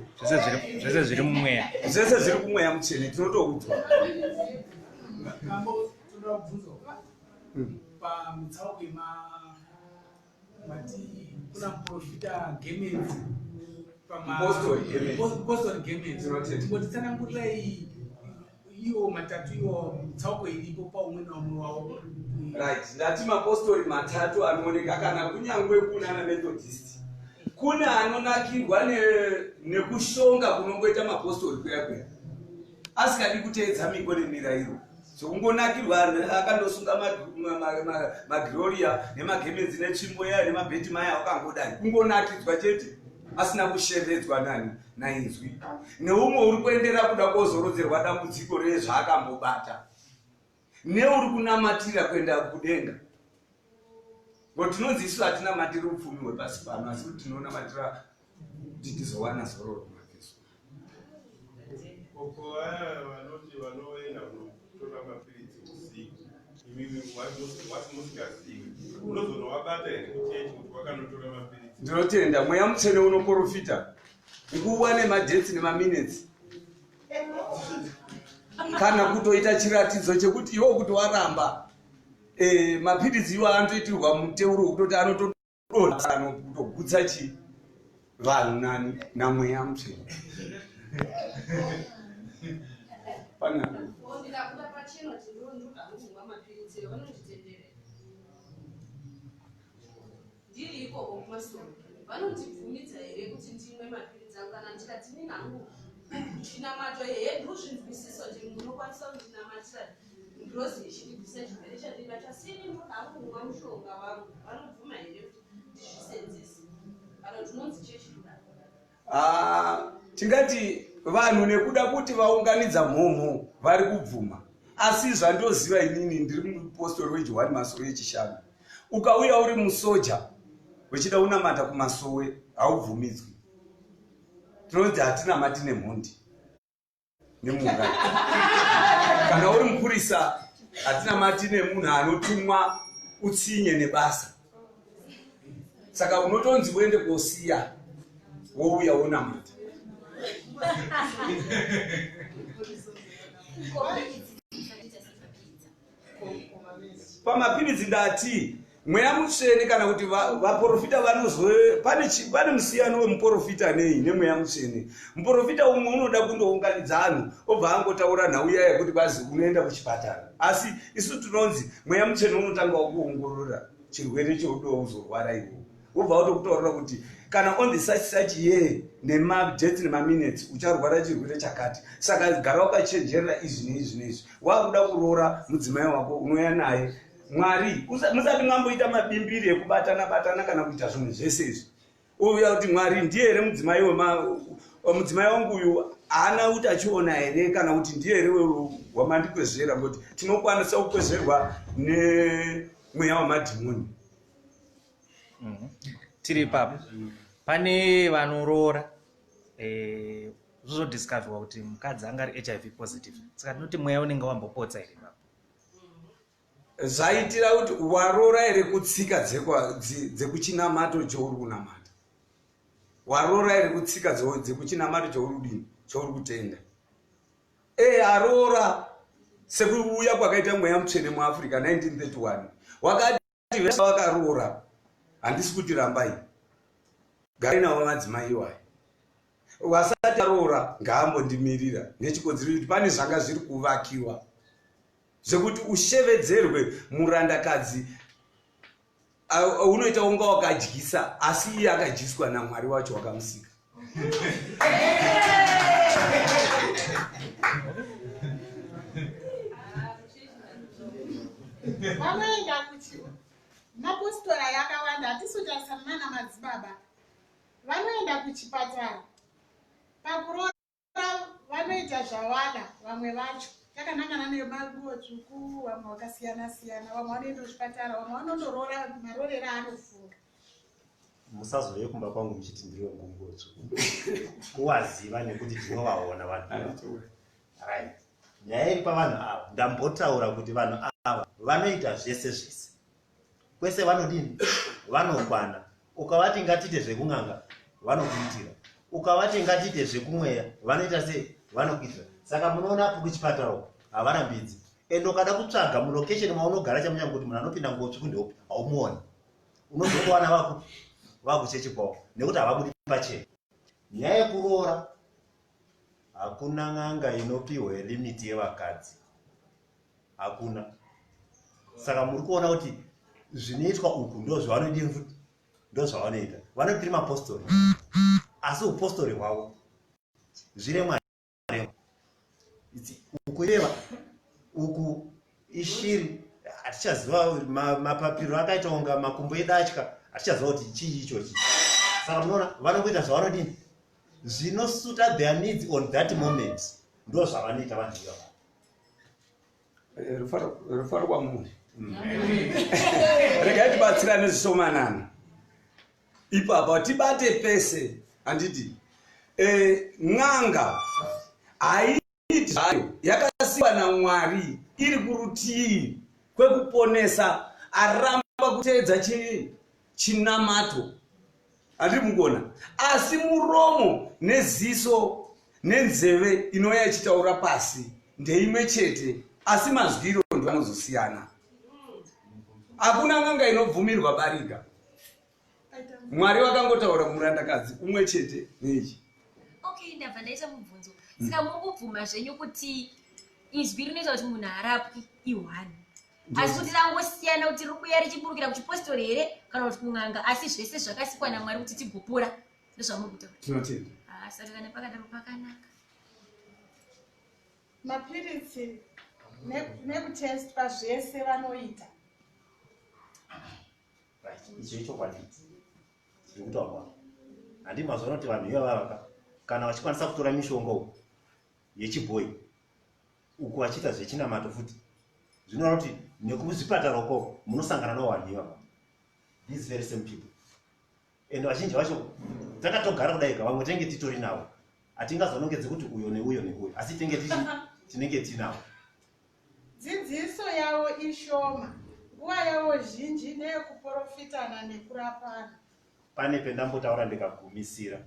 zvese zviri mumweya zvese zviri kumweya mutsvene tinotoudzwa pamutsauko Mati kuna muprofita Gemenzi pamapostori Gemenzi tingotitsanangurirai iwo matatu iwo tsauko iripo paumwe naumwe wavo right ndati mapostori matatu anooneka kana kunyangwe kunana methodist kune anonakirwa nekushonga kunongoita mapostori kuya kuya asikadi kuteedza miko nemirairo sokungonakirwa akandosunga magloria nemagemenzi netsvimbo yaya nemabheti maya akangodai kungonakidzwa chete asina kushevedzwa nani nainzwi neumwe uri kuendera kuda kozorodzerwa dambudziko rezvaakambobata neuri kunamatira kuenda kudenga ngo tinonzi isu hatinamatiri upfumi hwepasi pano asi kuti tinonamatira kuti tizowana zororo kumakeso koko vaya vanoti vanoenda kunotora mapiritsi usiku imimi wasi musingazivi unozonowabata here kuchechi kuti wakanotora mapiritsi ndinotenda mweya mutsvene unoporofita nguva nemadhesi nemaminetsi kana kutoita chiratidzo chekuti iwo kuti waramba e, mapiritsi iwo anotoitirwa muteuro wekutoti anotodonha kutogutsa chi vanhu nani namweya mutsvene Ndiri ikoko kumasowe vanondibvumidza here kuti ndimwe mapiritsi angu kana ndikati nini hangu chinamato hedu zvinzwisiso ndi munokwanisa kundinamatira ngirozi yechindibvisa chirwere chandibata sini ndoda hangu kumwa mushonga wangu vanobvuma here kuti ndizvisenzese kana tinonzi chechidaro Ah, tingati vanhu nekuda kuti vaunganidza mhomho vari kubvuma asi zvandoziva inini ndiri mupostori wejohani masowe echishanu ukauya uri musoja wechida unamata kumasowe haubvumidzwi tinonzi hatinamati nemhondi nemuuraya kana uri mupurisa hatinamati nemunhu anotumwa utsinye nebasa saka unotonzi uende kosiya wouya wonamata pamapiritsi ndati mweya mutsvene kana kuti vaprofita vanozwe pane musiyano wemuprofita nei nemweya mutsvene muprofita umwe unoda kundounganidza anhu obva angotaura nhau iya yekuti bazi unoenda kuchipatara asi isu tinonzi mweya mutsvene unotanga wakuongorora chirwere cheudouzorwara iwo wobva watokutorora kuti kana on the such such year nemajets nemaminutes ucharwara chirwere chakati saka gara wakachenjerera izvi neizvi neizvi wakuda kuroora mudzimai wako unouya naye mwari musati mwamboita mabimbiri ekubatana batana kana kuita zvinhu zvese izvi uya kuti mwari ndiye here mudzimai mudzimai wangu uyu haana kuti achiona here kana kuti ndiye here wamandikwezvera ngokuti tinokwanisa kukwezverwa nemweya wamadhimoni Mhm. tiri ipapo pane vanoroora eh, zvozodiscoverwa kuti mukadzi anga ari hiv positive saka tinoti mweya unenge wambopotsa here ipapo zvaitira kuti waroora here kutsika dzekwa- dzi- dzekuchinamato chouri kunamata waroora here kutsika dze- dzekuchinamato chouri kudini chouri kutenda e aroora sekuuya kwakaita mweya mutsvene muafrica 1931 wakati vakadzi vese vakaroora handisi kuti rambai gari navo madzimai iwayo wasati aroora ngaambondimirira nechikonzero kuti pane zvanga zviri kuvakiwa zvekuti ushevedzerwe murandakadzi unoita unga wakadyisa asi iye akadyiswa namwari wacho wakamusika vanoenda kuti mapostora yakawanda hatisotarisana nana madzibaba vanoenda kuchipatara pakurora vanoita zvavada vamwe vacho takanangana nemaguo tsvuku vamwe vakasiyana siyana vamwe vanoenda kuchipatara vamwe vanondoroora marorera anofunga musazouye kumba kwangu muchiti ndiri wegunguo tsvuku kuwaziva nekuti tinovaona vanhu right nyaya iri pavanhu ava ndambotaura kuti vanhu ava vanoita zvese zvese kwese vanodini vanokwana ukavati ngatiite zvekun'anga vanokuitira ukavati ngatiite zvekumweya vanoita sei vanokuitira saka munoona apo kuchipatara uko havarambidzi and ukada kutsvaga mulocation maunogara chamunyanga kuti munhu anopinda ngotsvi kundeopi haumuoni unozokuwana vaku vakuchechi kwavo nekuti havabudi pachena nyaya yekuroora hakuna n'anga inopiwe limiti yevakadzi hakuna saka muri kuona kuti zvinoitwa uku ndozvavanoita futi ndozvavanoita vanotiri mapostori asi upostori hwavo zviremwa ukureva uku ishiri hatichaziva mapapiro akaita kunga makumbo edatya hatichaziva kuti chii ichochi saka munoona vanongoita zvavanodini zvinosuta their needs on that moment ndozvavanoita vanhu ivava Eh, rufaro kwamuri regai tibatsira nezvishomanana ipapa tibate pese handiti eh, n'anga haiiti zvayo yakasiwa namwari iri kurutii kwekuponesa aramba kuteedza chinamato andiri mukona asi muromo neziso nenzeve inouya ichitaura pasi ndeimwe chete asi mazwiro ndoanozosiyana hakuna n'anga inobvumirwa barika mwari wakangotaura murandakadzi umwe chete nechi okay ndabva ndaita mubvunzo saka mukubvuma zvenyu kuti izwi rinoita kuti munhu harapwi ihwani asi kuti rangosiyana kuti riri kuya richiburukira kuchipostori here kana kuti kun'anga asi zvese zvakasikwa namwari kuti tigopora ndozvamuri kutaura tinotenda ah, saka kana pakadaro pakanaka mapiritsi nekutest pazvese vanoita icho ichokwadi tiri kutaurwa handi mazuva anoti vanhu ivavaka kana vachikwanisa kutora mishonga yechibhoyi uku vachiita zvechinamato futi zvinoreva kuti nekuzvipatara uko munosangana nowanhiwa these very same people and vazhinji vacho takatogara kudaika vamwe tenge titori navo hatingazonongedzi kuti uyo neuyo neuyo asi tenge tii tinenge tinavo dzidziso yavo ishoma nguva yavo zhinji neyekuporofitana nekurapana pane pendambotaura ndikagumisira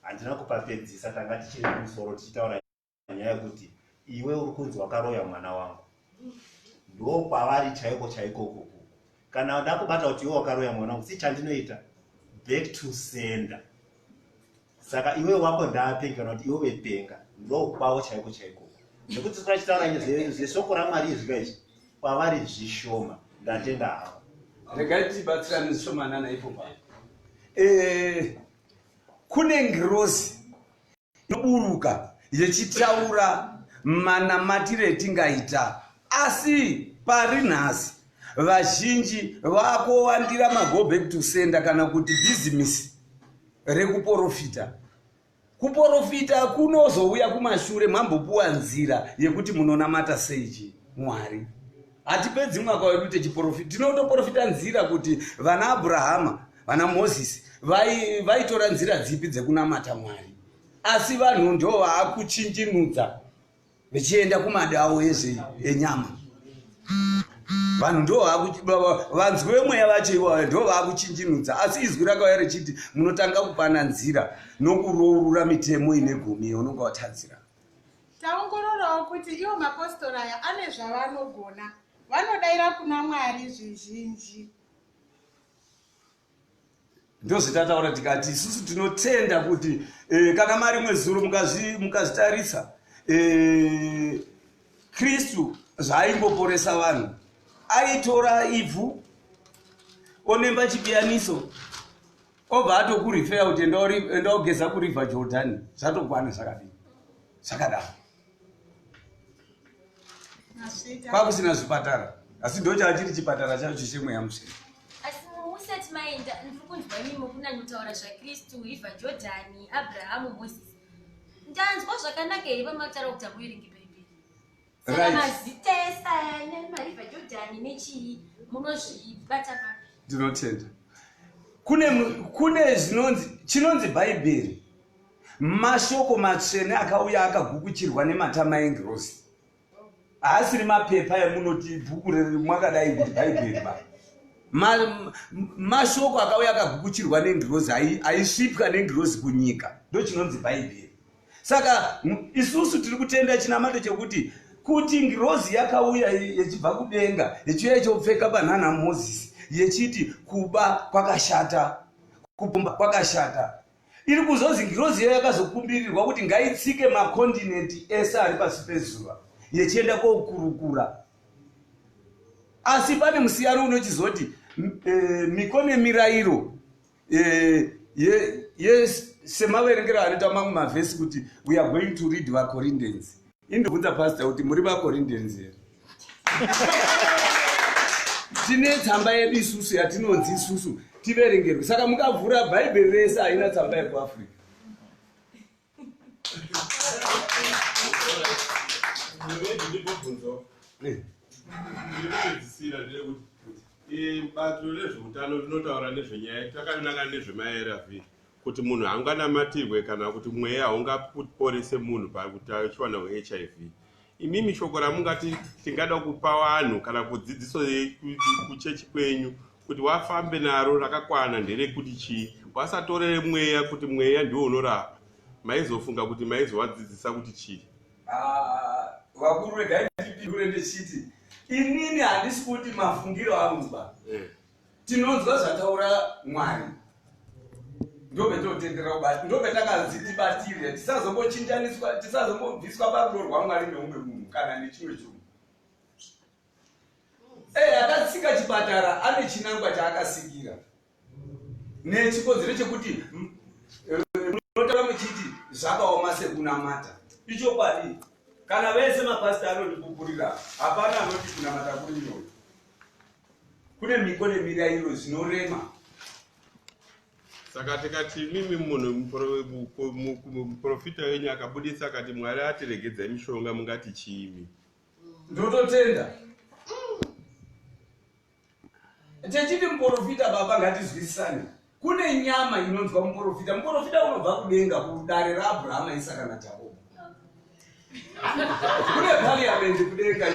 handina kupapedzisa tanga tichiri kumusoro tichitaura nyaya yekuti iwe uri kunzi wakaroya mwana wangu ndo kwavari chaiko chaiko kuku kana ndakubata kuti iwe wakaroya mwana wangu si chandinoita back to sender saka iwe wako ndaapenga kana kuti iwe wepenga ndo kwavo chaiko chaiko nekuti tikachitaura nyaya zveshoko ramwari izvika izvi kwavari zvishoma ndatenda havo regai tibatsirane zvishomanana ipo pa eh, kune ngirozi inoburuka yechitaura manamatire etingaita asi pari nhasi vazhinji vakowandira mago back to sender kana kuti bhizimisi rekuporofita kuporofita kunozouya kumashure mambopuwa nzira yekuti munonamata seiji mwari hatipedzi mwaka wedu techiporofita tinotoporofita nzira kuti vana abrahama vana mozisi vaitora nzira dzipi dzekunamata mwari asi vanhu ndo vaakuchinjinudza vechienda kumadawo ezve enyama vanhu ndo vanzwi vemweya vacho ivoayo ndo vaakuchinjinudza asi izwi rakauya richiti munotanga kupana nzira nokurourura mitemo ine gumi unonga watadzira Taongororawo kuti iwo mapositori aya ane zvavanogona, vanodaira kuna Mwari zvizhinji. Ndozvatataura tikati isusu tinotenda kuti eh, kana mari imwe zuro mukazvitarisa eh, Kristu zvaaimboporesa vanhu aitora ivhu onemba chipiyaniso obva atokurifeya kuti enda ogeza kuriver jordan zvatokwana zvakadii zvakadaro kwakusina zvipatara asi ndo chaachiri chipatara chacho chemweya musina musati maenda ndiri kunzwa imimi kunanyotaura zvakristu hiva jordani abrahamu moses ndanzwa zvakanaka here pamataura kuti amuerenge bhaibheri ndinotenda kune kune zvinonzi chinonzi bhaibheri mashoko matsvene akauya akagukuchirwa nematama engirosi haasiri mapepa emunoti bhuku remakadai kuti bhaibheri ba mashoko akauya akagukuchirwa nengirozi aisvipwa nengirozi kunyika ndochinonzi bhaibheri saka isusu tiri kutenda chinamato chekuti kuti ngirozi yakauya yechibva kudenga yechiuya ichopfeka banana mozisi yechiti kuba kwakashata kupumba kwakashata iri kuzonzi ngirozi iyo yakazokumbirirwa kuti ngaitsike makontinenti ese ari pasi pezuva yechienda kokurukura asi pane musiyano unochizoti e, miko nemirayiro Eh, ye, yes semaverengero anoita mamwe mavhesi kuti we are going to read vacorinthians indobvunza pasta kuti muri vacorinthians here tine tsamba yedu isusu yatinonzi isusu tiverengerwe saka mukavhura bhaibheri rese haina tsamba yekuafrica bato rezveutano rinotaura nezvenyaya takananga nezvemaarv kuti munhu haunganamatirwe kana kuti mweya haungaporese munhu pakuti achiwana hiv Imimi shoko ramungati tingada kupa vanhu kana kudzidziso kuchechi kwenyu kuti wafambe naro rakakwana nderekuti chii wasatorere mweya kuti mweya ndiwo unorapa maizofunga kuti maizovadzidzisa kuti chii ah, vakuru regai ndipindure ndechiti inini handisi kuti mafungiro angu ba eh. tinonzwa zvataura mwari ndobetotenderera kubati ndobetakazii tibatire tisazombochinjaniswa tisazombobviswa parudo rwamwari neumwe munhu kana nechimwe chunhu ee eh, akatsika chipatara ane chinangwa chaakasikira nechikonzero chekuti eh, munotaura muchiti zvakaoma sekunamata ichokwadi kana vese mapasita anondipupurira hapana anoti kunamata kuri nyore kune miko nemirayiro zvinorema saka tikati imimi munhu muprofita wenyu akabudisa akati mwari atiregedzai mishonga mungati chiimi ndototenda techiti muprofita baba ngatizwisisane kune nyama inonzwa muprofita muprofita unobva kudenga kudare raabrahama isaka najakobo kune pariamendi kudenga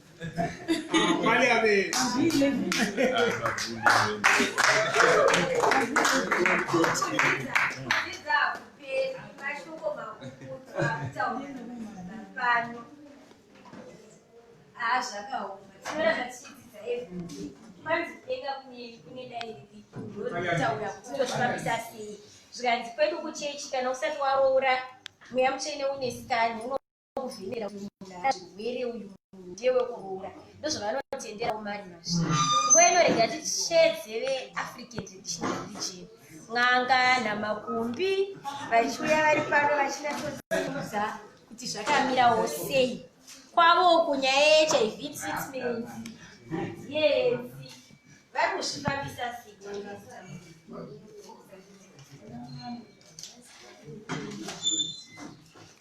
zvikanzi kwedu kuchechi kana usati waroora mweya mutsvene une sitani kuvhimira kuti munhu azvirwere uyu munhu ndewekuroora ndozvavanotenderawo mari masvi nguva inorega tichedze veafrican traditional religion n'anga namakumbi vachiuya vari pano vachinatozivudza kuti zvakamirawo sei kwavo kunyaya yehiv treatment hadzienzi vari kuzvifambisa sei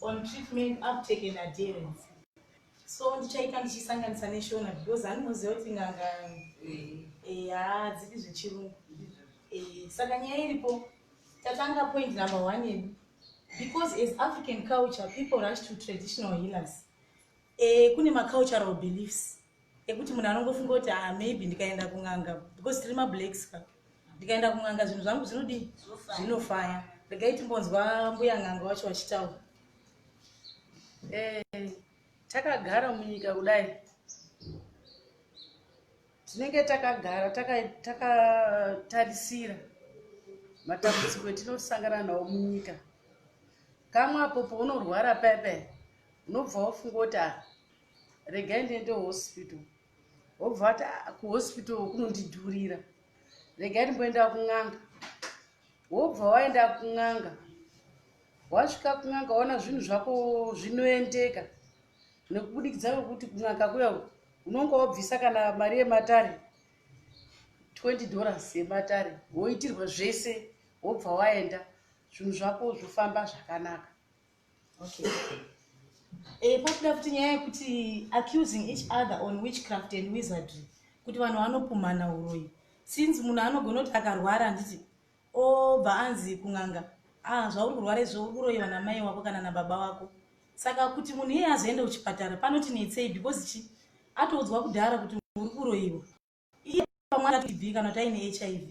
on treatment uptake and adherence so ndichaita ndichisanganisa neshona because aninoziva kuti nganga haadzipi zvechirungu saka nyaya iripo tatanga point number one yedu because as african culture people rush to traditional healers Eh, kune macultural beliefs ekuti munhu anongofunga kuti ah, maybe ndikaenda kun'anga because tiri mablacks ka ndikaenda kun'anga zvinhu zvangu zvinodii zvinofaya regai timbonzwa mbuya n'anga wacho vachitaura eh, takagara munyika kudai tinenge takagara takatarisira taka matambudziko etinosangana nawo munyika kamwe apo pounorwara paya paya unobva wafunga kuti a ah, regai ndiende hospital wobva wati ah, kuhospital kunondidhurira regai ndimboenda kun'anga wobva waenda kun'anga wasvika kun'anga waona zvinhu zvako zvinoendeka nekubudikidza kwekuti kun'anga kuya unonga wabvisa kana mari yematare 20 dollars yematare woitirwa zvese wobva waenda zvinhu zvako zvofamba zvakanaka okay eh pakuda kuti nyaya yekuti accusing each other on witchcraft and wizardry kuti vanhu vanopumhana uroyi since munhu anogona kuti akarwara handiti obva anzi kun'anga ah zvauri kurwara izvo uri kuroyi vana mai wako kana nababa wako saka kuti munhu iye azoenda kuchipatara panoti netsei because chi atoudzwa kudhara kuti uri kuroyiwa iye pamwe anatb kana kuti aine hiv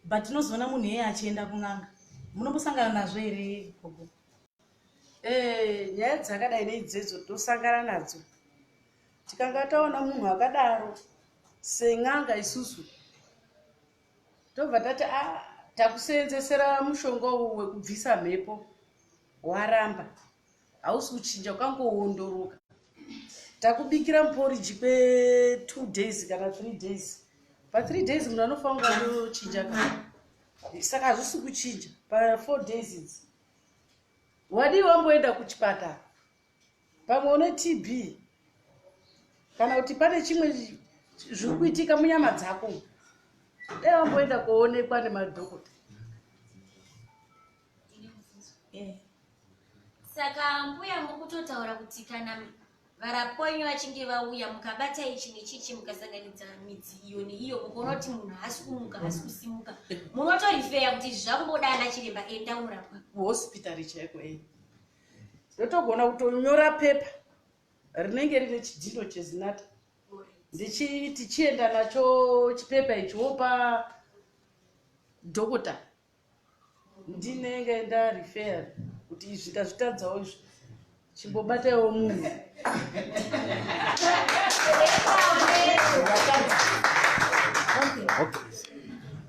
but tinozoona munhu iyeye achienda kun'anga munombosangana nazvo here gogo eh, nyaya dzakadai neidzedzo tinosangana nadzo tikanga taona munhu akadaro sen'anga isusu tobva tati a ah, takuseenzesera mushonga uwu wekubvisa mhepo waramba hausi kuchinja ukangoondoroka takubikira muporiji kwe two days kana three days pathree days munhu anofanira kunochinja ka saka hazvisi kuchinja pafour days idzi wadii wamboenda kuchipatara pamwe une tb kana kuti pane chimwe zviri kuitika munyama dzako dai wamboenda koonekwa nemadhokota eh. saka mbuya mukutotaura kuti kana varaponyu vachinge vauya mukabata ichi nechichi mukasanganidza midzi iyo neiyo mukaona kuti munhu haasi kumuka haasi kusimuka munotorifeya kuti izvi zvakumboda ana chiremba enda unorapwa kuhospitari chaiko e ndotogona kutonyora pepa rinenge rine chidhino chezinata ndichitichienda nacho chipepa ichi wopa dhokota ndinenge ndarefera kuti izvi ndazvitadzawo izvi chimbobataiwo munhu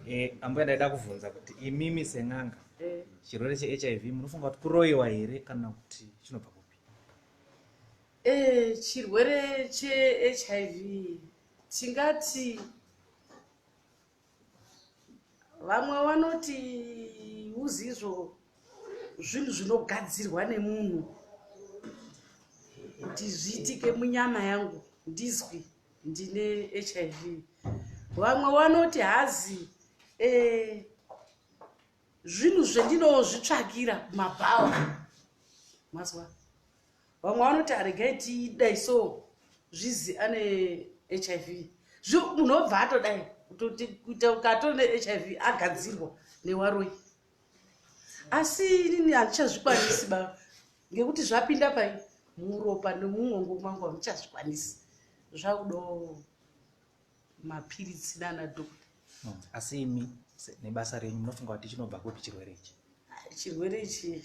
eh, ambuya ndaida kuvhunza kuti imimi sen'anga eh. chirwere chehiv munofunga kuti kuroyiwa here kana kuti chinobva kupi eh, chirwere chehiv tingati Vamwe vanoti uzizvo zvinhu zvinogadzirwa nemunhu kuti zviitike munyama yangu ndizwi ndine hiv vamwe vanoti hazi eh, zvinhu zvendinozvitsvakira kumabhawa mazwa vamwe vanoti haregai tidai so zvizi ane hiv munhu obva atodai kuita ukatoo nehiv agadzirwa newaroi asi inini handichazvikwanisi ba ngekuti zvapinda pai muropa nemumwongo mwangu handichazvikwanisi zvakudo mapiritsi nana dokta hmm, asi imi nebasa renyu munofunga kuti chinobva kupi chirwere ichi chirwere ichi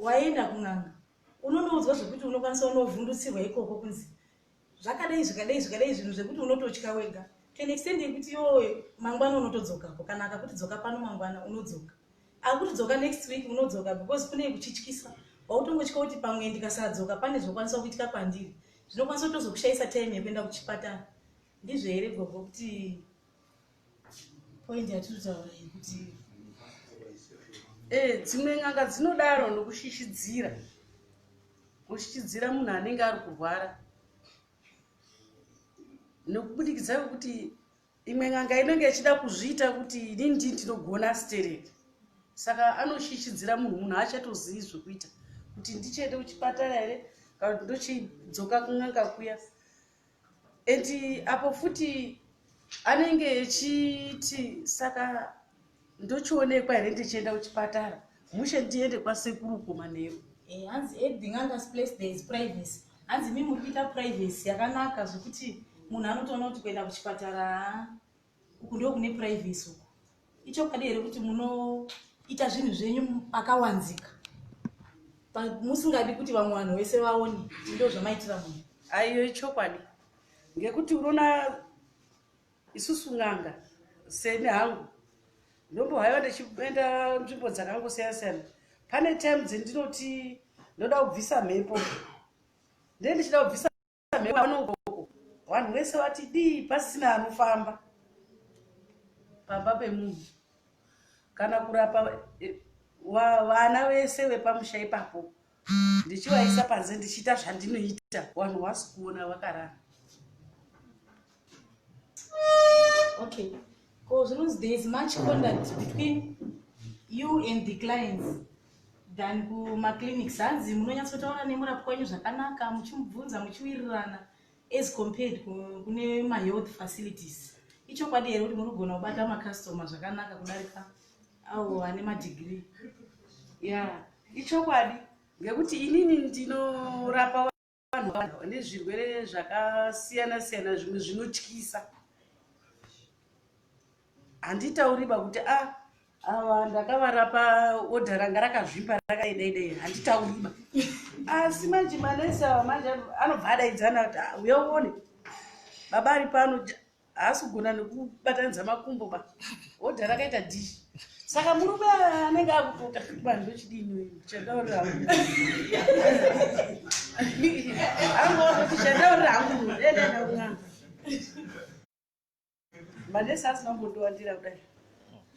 Waenda kun'anga unonoudzwa zvekuti unokwanisa unovhundutsirwa ikoko kunzi zvakadai zvikadai zvikadai zvinhu zvekuti unototya wega to an extent yekuti yoe mangwana unotodzokako kana akakuti dzoka pano mangwana unodzoka akuti dzoka next week unodzoka because kune kuchityisa wautongotya kuti pamwe ndikasadzoka pane zvokwanisa kuitika kwandiri zvinokwanisa kutozokushayisa time yekuenda kuchipatara ndizvo here gogo kuti point yatiri kutaura yekuti eh, dzimwe n'anga dzinodaro nokushishyidzira kushishyidzira munhu anenge ari kurwara nokubudikidza kwekuti imwe n'anga inenge ichida kuzviita kuti ini ndi ndinogona stereki saka anoshishyidzira munhu munhu achatozivi zvekuita kuti ndichiende kuchipatara here kana kuti ndochidzoka kun'anga kuya and apo futi anenge echiti saka ndochionekwa here ndichienda kuchipatara mushe ndiende kwasekuru kumanheru eh, hanzi everything under place there is privacy hanzi mi muri kuita privacy yakanaka zvekuti munhu anotoona kuti kuenda kuchipatara uku ndo kune privacy uku ichokwadi here kuti munoita zvinhu zvenyu akawanzika musingadi kuti vamwe vanhu vese vaone ndo zvamaitira munhu aiyo ichokwadi ngekuti unoona isusu n'anga seni hangu ndombohaiwa ndichienda nzvimbo dzakangosiyana siyana pane time dzendinoti ndoda kubvisa mhepo ndendichida kubvisa mhewaanogoko vanhu vese vati dii pasina anofamba pamba pemunhu kana kurapa eh, vana vese vepamusha ipapo ndichivaisa panze ndichiita zvandinoita vanhu vasi kuona vakarara okay ko zvinonzi there is much conduct between you and the clients than kumaclinics hanzi munonyatsotaura nemurapwa wenyu zvakanaka muchimubvunza muchiwirirana as compared kune mahealth facilities ichokwadi here kuti muri kugona kubata macustomer zvakanaka kudarika awo ane madegree ya ichokwadi ngekuti inini ndinorapa vanhu vane zvirwere zvakasiyana siyana zvimwe zvinotyisa handitauriba kuti a ah, ava ndakavarapa odha ranga rakazvimba rakaidaidai handitauriba asi manje manesi ava manje anobva adaidzana kuti ah, uya uone baba ari pano haasi kugona nekubatanidza makumbo ba odha rakaita dish saka murume anenge akupota vanhu vechidini chandaurira hangu angooti chandaurira hangu mueeaunanga manesi asina kumbondiwandira kudai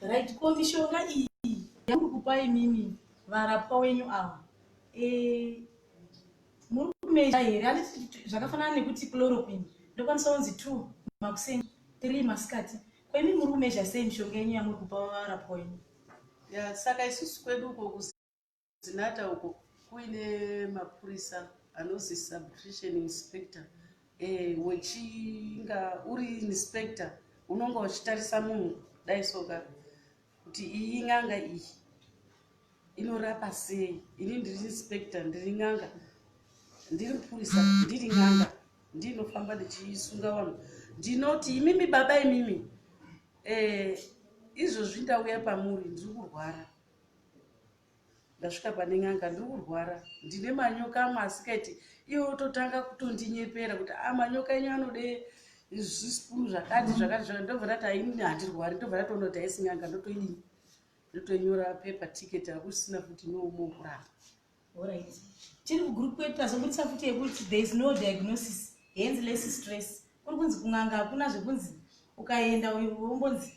right ko mishonga iyi yamuri kupai mimi varapwa wenyu ava eh, muri kumeja here anditi zvakafanana nekuti chloroquine ndokwanisa kunzi two makuseni three masikati ko imi muri kumeja sei mishonga yenyu yamuri kupa varapwa wenyu ya saka isusu kwedu uko kuzinata uko kuine mapurisa anozi subtrition inspector e, wechinga uri inspector unonga uchitarisa munhu dai soka kuti iyi n'anga iyi inorapa sei ini ndiri inspector ndiri n'anga ndiri mupurisa ndiri n'anga ndinofamba ndichisunga vanhu ndinoti imimi baba imimi eh, izvozvi ndauya pamuri ndiri kurwara Ndasvika pane n'anga ndiri kurwara ndine manyoka amwe asikaiti iye ototanga kutondinyepera kuti a ah, manyoka enyu anode zvisipunu zvakati zvakati zvakati ndobva ndati ainini handirwari ndobva ndatoona kuti aisi n'anga ndotoidii ndotonyora pepa ticket hakusina futi noumo kuramba orit tiri kugroup kwedu tazobudisa futi yekuti there is no diagnosis hence less stress kuri kunzi kun'anga hakuna zvekunzi ukaenda uyu wombonzi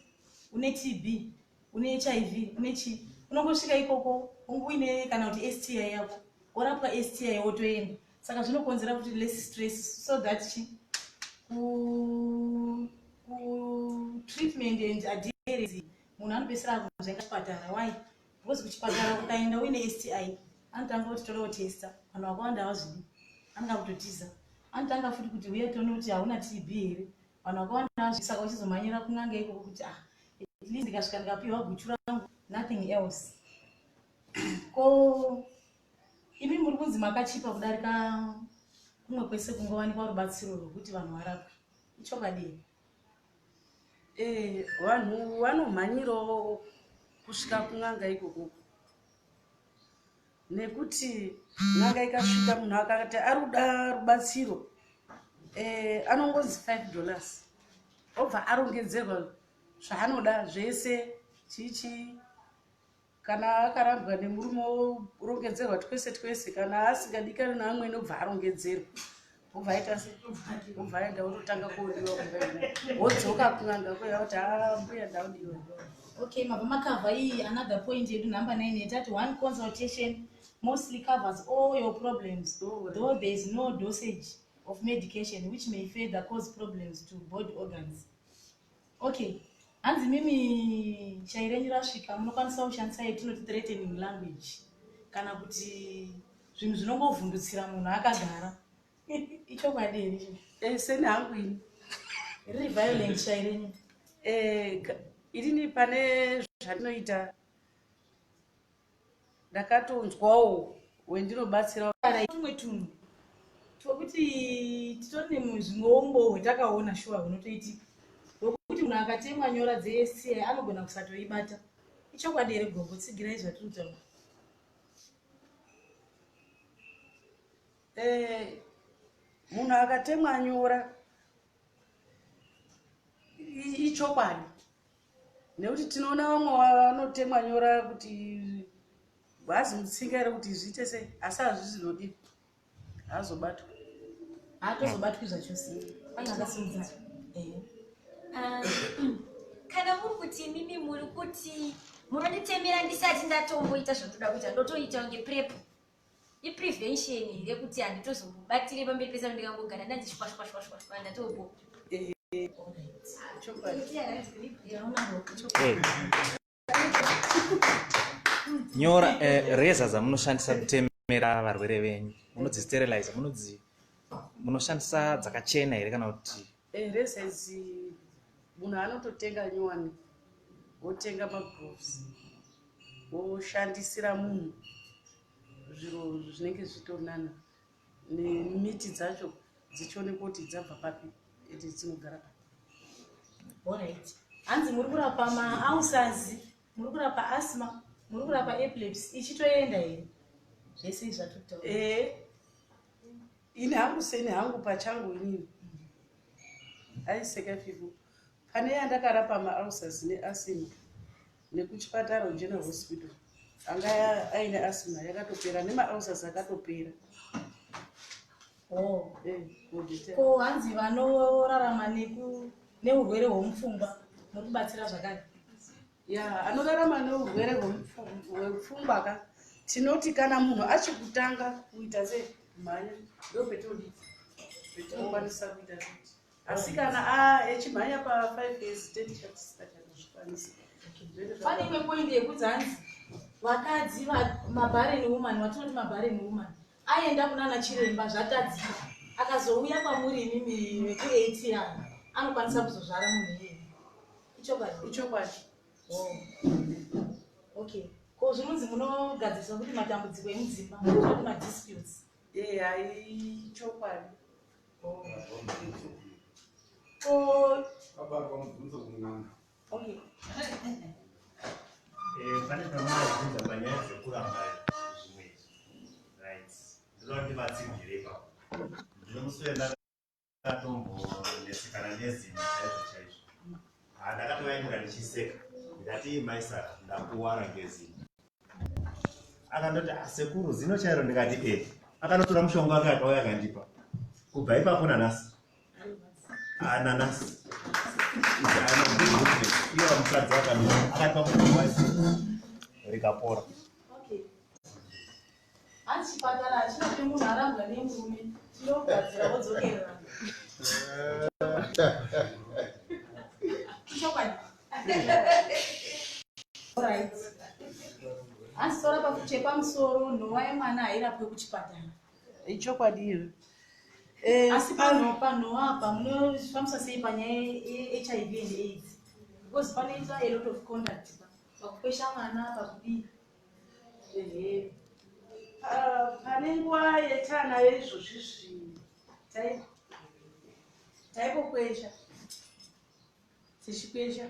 une tb une hiv une chii unongosvika ikoko unge uine kana kuti sti yako worapwa sti wotoenda saka zvinokonzera kuti less stress so that chi kutreatment and adherence munhu anopesera akunzvenga chipatara why because kuchipatara ukaenda uine sti anotanga kuti toda kutesta vanhu vakawanda havazvidi anotanga kutotiza anotanga futi kuti uye toona kuti hauna tb here vanhu vakawanda vazvisaka vachizomhanyira kun'anga ikoko kuti ah at least ndikasvika ndikapiwa guchu rangu nothing else ko imi muri kunzi makachipa kudarika kumwe kwese kungowanikwa rubatsiro rwekuti vanhu varapwe ichokadii eh, vanhu vanomhanyirawo kusvika kun'anga ikoko nekuti n'anga ikasvika munhu akati ari kuda rubatsiro eh, anongonzi five dollars obva arongedzerwa zvaanoda zvese chii chii kana akarambwa nemurume orongedzerwa twese twese kana asingadikani naamwene obva arongedzerwa uvaita se uvaenda wototanga kuodiwa wodzoka kunanga kuya kuti ah, mbuya ndaudiwa okay mabva makavha iyi another point yedu number nine yetati one consultation mostly covers all your problems though there is no dosage of medication which may further cause problems to body organs Okay. Hanzi mimi shayi renyu rasvika munokwanisa kushandisa yetinoti threatening language kana kuti zvinhu zvinongovhundutsira munhu akagara ichokwadi here icho eh, seni hangu ini riri violent shayi renyu eh, irini pane zvandinoita ndakatonzwawo wendinobatsira kana tumwe tunhu twekuti titori nezvimweumbo hwetakaona shuwa hunotoitika hwekuti munhu akatemwa nyora dzesci anogona kusatoibata ichokwadi here gogo tsigirai zvatiri kutaura eh, munhu akatemwa nyora ichokwadi nekuti tinoona vamwe vanotemwa nyora kuti hazi mutsinga here kuti zviite sei asi hazvizi nodii haazobatwa haatozobatwi zvachose anga akasimudza ah, kana muri kuti imimi muri kuti munonditemera ndisati ndatomboita zvandoda kuita ndotoita kunge prepo iprevention here kuti handitozobatire pamberi pese ndikangogara ndanzi shwashwashwashwa ndatogo nyora eh, reza dzamunoshandisa kutemera varwere venyu munodzisterilize munodzi munoshandisa dzakachena here kana kuti Here size munhu anototenga nyowani wotenga magroves woshandisira munhu zviro zvinenge zvitonana nemiti dzacho dzichionekwa kuti dzabva papi ende dzinogara papi orit hanzi muri kurapa maausazi muri kurapa asma muri kurapa epilepsy ichitoenda here zvese izvatotoo eh, ini hangu seni hangu pachangu inini aiseka fivo pane yandakarapa maalsas neasima nekuchipatara general hospital anga aine asima yakatopera nemaalsas akatopera oh. eh, ko hanzi vanorarama neurwere hwemupfungwa nokubatsira zvakare ya anorarama neurwere hwepfungwa ka tinoti kana munhu achikutanga kuita se mhanya ndo petodi petinokwanisa kuita kuti asi kana echimhanya pa five days ten chatisikachaazvikwanisa pane imwe poindi yekudzi hanzi vakadzi mabaren woman watinoti mabaren woman Aenda kunana chiremba zvatadzika akazouya kwamuri imimi vekuatr anokwanisa kuzozvara munhu iyeye ichokwadi ichokwadi oh. okay ko zvinonzi munogadzirisa kuti matambudziko emudzimba kuti madisputes ee hai chokwadi oh. ko abarwa mubvunzo kun'anga Okay. Eh, pane pamaaibvunza panyaya dzekuramba zvimwe right ndinoda kuti vatsigire ipapo ndine musi wendakatombonesekana nezimo chaizvo chaizvo handakatovaimura ndichiseka ndati maisara ndakuwara ngezimo akandoti ah, sekuru zino chairo ndikati e akanotora mushonga wake akauya akandipa kubva ipapo nanasi ah, nanasi iyo mukadzi akandii akatipa mushonga waisi rikapora Hanzi chipatara hachina kuti munhu arambwa nemurume chinogadzira wodzokererana. Ichokwadi. Alright. Hanzi tora pakuchekwa musoro nhova yemwana hairapwe kuchipatara. Ichokwadi here? Eh, asi pano pano apa munofambisa sei panyaya yehiv and aids because panoita a lot of conduct pakukwesha mwana pakudii pane nguva yetana yeizvozvi zvinhu taipokwesha tichikwesha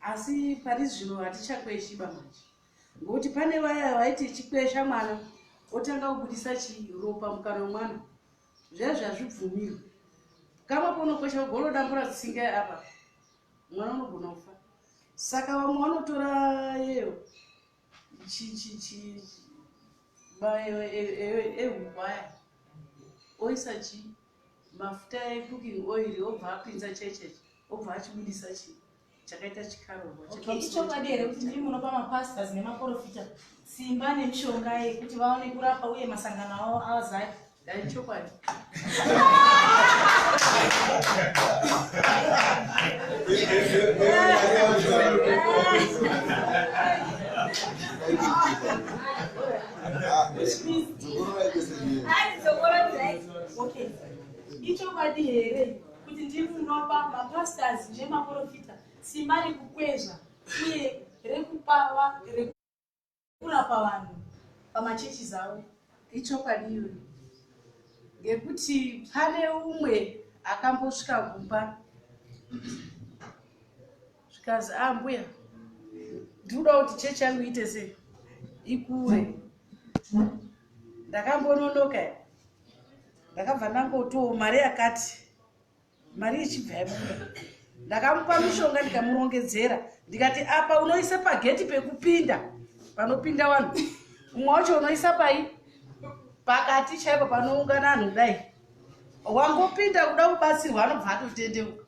asi pari zvino hatichakweshi bamanje ngokuti pane vaya vaiti ichikwesha mwana otanga kubudisa chiropa mukana wemwana zviya zvazvibvumirwe kama ponokwesha ugolodambura tsinga apa mwana unogona kufa saka vamwe vanotora yeyo bayo ehuku aya oisa chi mafuta ecooking oil obva apinza checheche obva achibudisa chi chakaita chikaroichokwadi here kuti ndiri munopa mapastas nemaprofita simba nemishonga yekuti vaone kurapa uye masangano avo azai Dai chokwadi. Okay. Ichokwadi here kuti ndiri munopa mapastors nemaprofita simba rekukwezva uye rekupawa kurapa vanhu pamachechi zavo ichokwadi iyoyo ngekuti pane umwe akambosvika kumba zvikazi a ah, mbuya ndikuda kuti chechi yangu iite sei ikure ndakambononoka ndakabva ndangotiwo mari yakati mari ichibva yabuda ndakamupa mishonga ndikamurongedzera ndikati apa unoisa pageti pekupinda panopinda vanhu umwe wacho unoisa pai pakati chaipo panoungana anhu kudai wangopinda kuda kubatsirwa anobva atotendeuka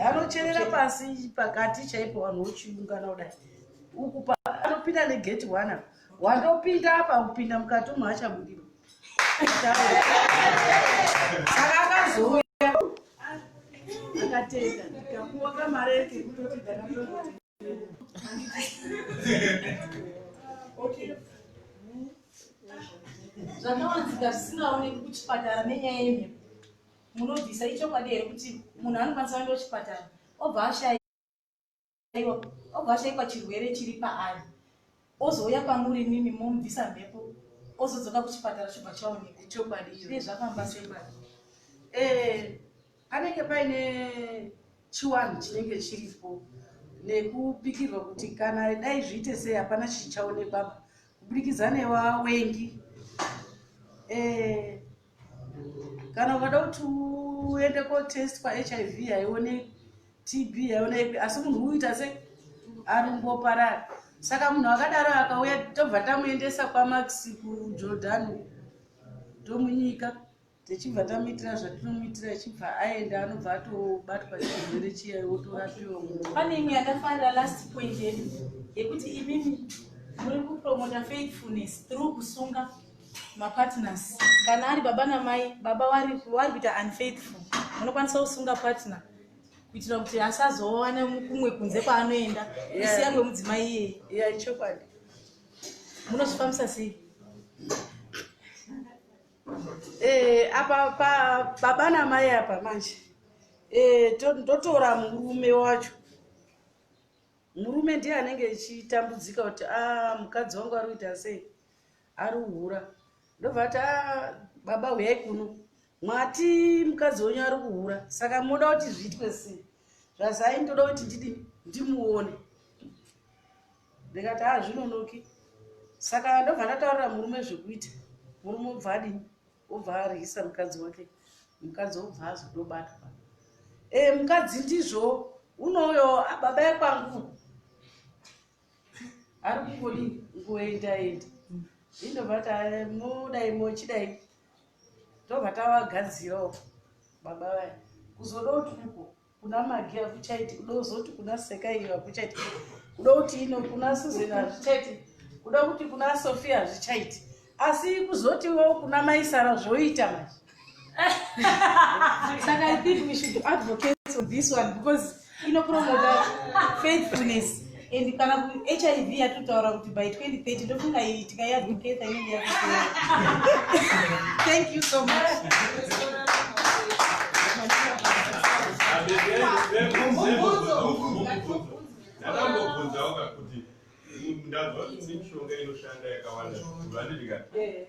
anocherera pasi pakati chaipo vanhu vochiungana kudai uku anopinda negeti one Wandopinda apa kupinda mukati umu hachabudiro. Saka akazouya akatenda ndikapuwa kamari yake kutoti ndakatoti. Okay. zvakawanzika zvisingaoneki kuchipatara nenyaya yemhepo munobvisa ichokwadi here kuti munhu anokwanisa kuenda kuchipatara obva ashaya aiwa obva ashaikwa chirwere chiri paari ozouya kwamuri nini momubvisa mhepo ozodzoka kuchipatara chobva chaoneka ichokwadi iye zvafamba sei eh, panenge paine chiwanhu chinenge chiripo nekupikirwa kuti kana dai zviite sei hapana chichaonekwapa kubudikidza newawengi eh, kana ukada kuti uende kotestwa hiv haione tb haione ipi asi munhu uita se arumboparara saka munhu akadaro akauya tobva tamuendesa kwamax kujordan tomunyika tichibva tamuitira zvatinomuitira achibva aenda anobva atobatwa chirwere chiya otorapiwa pane imwe yakafanira last point yedu yekuti imimi muri kupromota faithfulness through kusunga mapartners kana ari baba namai baba wari kuita unfaithful unokwanisa kusunga partner kuitira kuti asazowana kumwe kunze kwaanoenda isiya kwemudzimai iyeye ichokwadi munozvifambisa sei eh, apa baba namai apa manje eh, ndotora murume wacho murume ndiye anenge echitambudzika kuti a ah, mukadzi wangu ari kuita sei Arikuhura ndobva ati aa baba huyai kuno mwati mukadzi wenyu ari kuhura saka moda kuti zviitwe sei zvazai ndoda kuti ndidi ndimuone ndikati aa zvinonoki saka ndobva ndataurira murume zvekuita murume obva adini obva aryisa mukadzi wake mukadzi obva azodobatwa e mukadzi ndizvo unouyo baba ekwangu ari kungodi ngoenda enda indobva ta modai mochidai ndobva tavagadzirawo baba vaya kuzoda kuti uko kuna magi akuchaiti kuda kuzoti kuna seka iyo akuchaiti kuda kuti ino kuna susan hazvichaiti kuda kuti kuna sofia hazvichaiti asi kuzotiwo kuna maisara zvoita manje saka i think we should advocate for this one because inopromota faithfulness and kana hiv yatotaura kuti by 2030 ndofunga iyi tikaiadvocate inenge ya thank you so much Thank you. ndabva kuti mishonga inoshanda yakawanda vanidika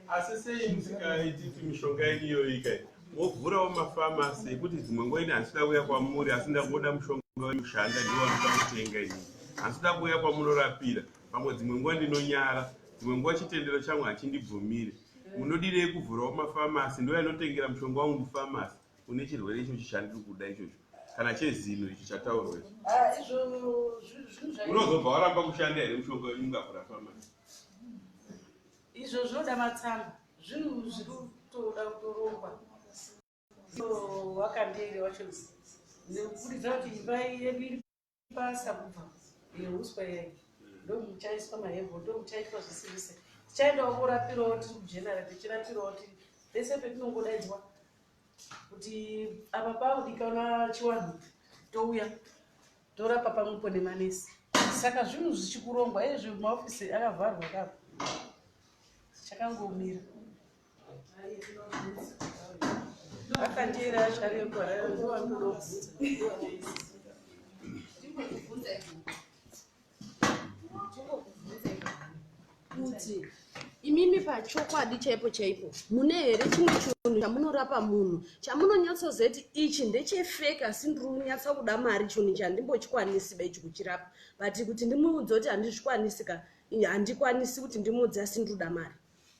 asi sei musikaititi mishonga yenyu iyoyi kai wovhurawo mafamasi yekuti dzimwe nguva ini handisida kuuya kwamuri asi ndakuoda mushonga wekushanda ndiwo wanoda kutenga ini handisida kuuya kwamunorapira pamwe dzimwe nguva ndinonyara dzimwe nguva chitendero changu hachindibvumiri munodii yekuvhurawo mafamasi ndo yanotengera mushonga wangu mufamasi une chirwere ichocho chandiri kuda ichocho kana chezino icho chataurwa icho Ah, izvo zvinhu zvinhu zvai- unozobva waramba kushanda here mushonga wenyu ungakurapa manje izvo zvinoda matsamba zvinhu zviri kutoda kutorongwa so wakandere wacho nekuburidza kuti imba yedu iri basa kubva yeuswa yai ndomuchaiswa mahebho ndomuchaitwa zvese zvese tichaendawo korapirawo tiri kujenara tichirapirawo tiri pese petinongodaidzwa kuti apa paudikana chiwanhu touya torapa pamwepo nemanesi saka zvinhu zvichikurongwa ezvi maofisi akavharwa kapo chakangomira akandiera asharekwa rero ndiwandodokuza kuti imimi pachokwadi chaipo chaipo mune here chimwe chinhu chamunorapa munhu chamunonyatsozoti ichi ndechefeke asi ndiri kunyatsa kuda mari chinhu ichi handimbochikwanisi ba ichi kuchirapa but kuti ndimuudze kuti handizvikwanisi ka handikwanisi kuti ndimuudze asi ndiri kuda mari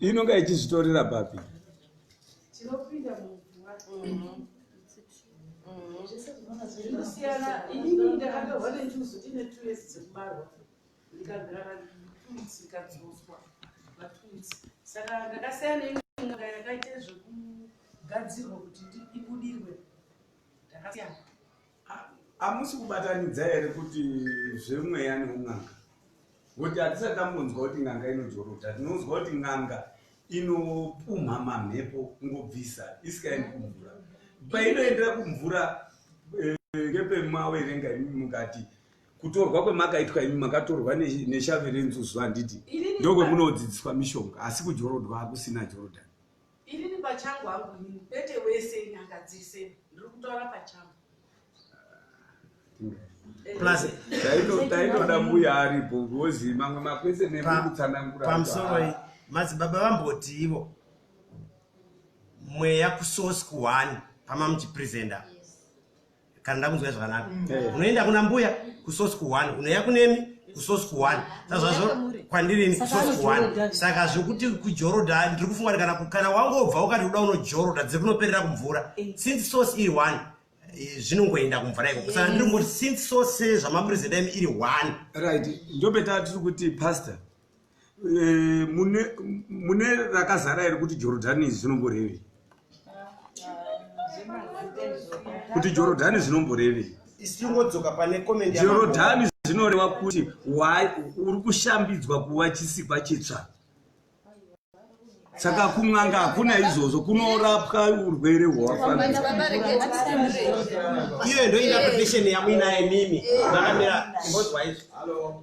inonga ichizvitorera papi tinopinda mumvura mm-hmm. zvinosiyana inini ndakadorwa netuzu ndine two years dzekubarwa ndikagara vatutsi kadzoswa vatutsi saka ndakasiyana neimwenga yakaita zvekugadzirwa kuti ibudirwe ndakasiyana Hamusi kubatanidza here kuti zvemweya neun'anga? Ngokuti hatisati tambonzwa kuti n'anga inojorota. Tinonzwa kuti n'anga inopumha mamhepo kungobvisa isikaendi kumvura. Painoendera kumvura eh, ngepemawerenga imi mukati kutorwa kwemakaitwa imi makatorwa neshave renzuzu handiti ndokwemunodzidziswa mishonga asi kujorodwa hakusina jorodhani Inini pachangu hangu inini kwete wese nyanga dzese ndiri kutaura pachangu taitoda mbuya aripo ngozi mamwe makwese nemukutsanangura pamusoro madzibaba vamboti ivo mweya kusosi kuhwani pamamuchipresenta kana ndakunzwai zvakanaka eh. unoenda kuna mbuya kusosi kuhwani unoya kunemi kusosi kuhwani sazvazvo kwandirini kusosi kuhwani saka zvekuti kujoroda ndiri kufunga kuti kana kana wangobva ukati kuda unojoroda dziri kunoperera kumvura eh. since sosi iri hwani eh, zvinongoenda kumvura ikoko saka ndiri kungoti since sose zvamaprezida emi iri hwani right ndopeta tiri kuti pastor Eh, mune rakazara here kuti jorodhani zvinomborevei kuti jorodhani zvinomborevei jorodhani zvinoreva kuti uri kushambidzwa kuva chisikwa chitsva saka kun'anga hakuna izvozvo kunorapwa urwere hwawafambiraiyo ndoinapetition yamuinaye mimi makamira imbozwaizvo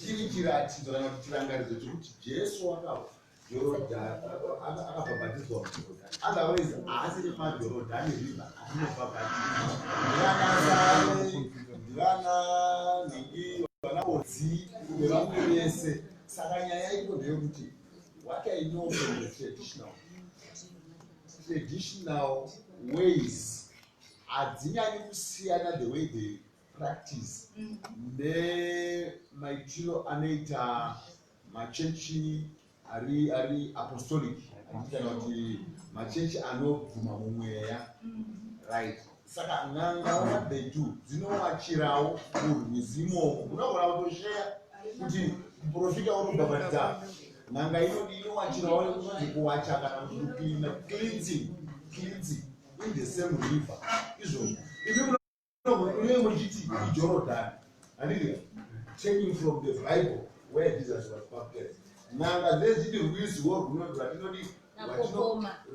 Chiri chiratidzo kana kuti chirangaridzo chekuti Jesu wakafa Jorodhani akabhabhatidzwa muJorodhani. Otherwise haasi nemaJorodhani river atinobhabhatidzwa. Ndivana Sare, ndivana Nhingi, vana Odzi, nevamwe vese. Saka nyaya iko ndeyekuti what I know from the traditional traditional ways hadzinyanyi kusiyana the way they practice nemaitiro anoita machechi ari ari apostolic kana kuti machechi anobvuma mumweya right saka n'anga nabetu dzinowachirawo urwizi imomo unogona kutosheya kuti muprofita unobhabhatidza n'anga inodi inowachirawo unonzi kuwacha kana kuti kupina cleansing cleansing in the same river izvozvo Iwe muchiti iJorodhani, handiti taking from the Bible where Jesus was baptized. N'anga dzezviti rwiziwo rwuno rwatinodi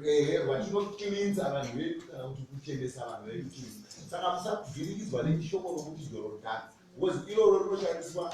ehe rwatinokirinza vanhu vedu kana kuti kuchenesa vanhu vedu chii. Saka musavhirikidzwa nechishoko rokuti Jorodhani, because iroro rinoshandiswa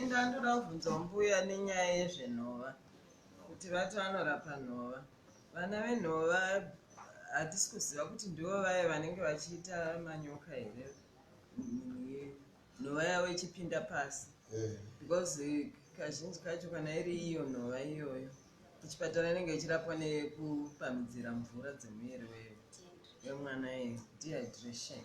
Inga ndoda kubvunza mbuya nenyaya yezvenhova kuti vati vanorapa nhova vana venhova hatisi kuziva kuti ndivo vaye vanenge vachiita manyoka here nhova yavo ichipinda pasi eh. because kazhinji kacho kana iri iyo nhova iyoyo kuchipatara inenge ichirapwa nekupamidzira mvura dzemuviri wemwana ye dehydration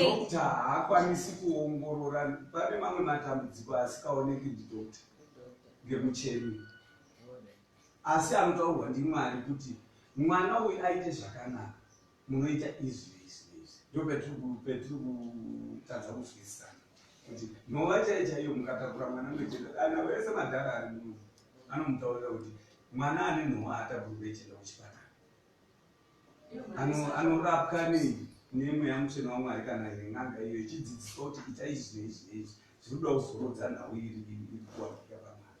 dokta haakwanisi kuongorora pane mamwe matambudziko asikaoneki ndidokta ngemucheni asi anotaurwa ndimwari kuti mwana uyu aite zvakanaka munoita izvi izvi izvi ndo petiri kutadza kunzwisisana kuti nhova chaiyo chaiyo mukatakura mwana mechenda ana vese madhara ari muno anomutaurira kuti mwana ane nhova ataburi kuechenda kuchipatara anorapwa nei nemweya mutsvene wamwari kana ine n'anga iyo ichidzidziswa kuti ita izvi neizvi neizvi zviri kuda kuzorodza nhau iri iri kuwanika pamwana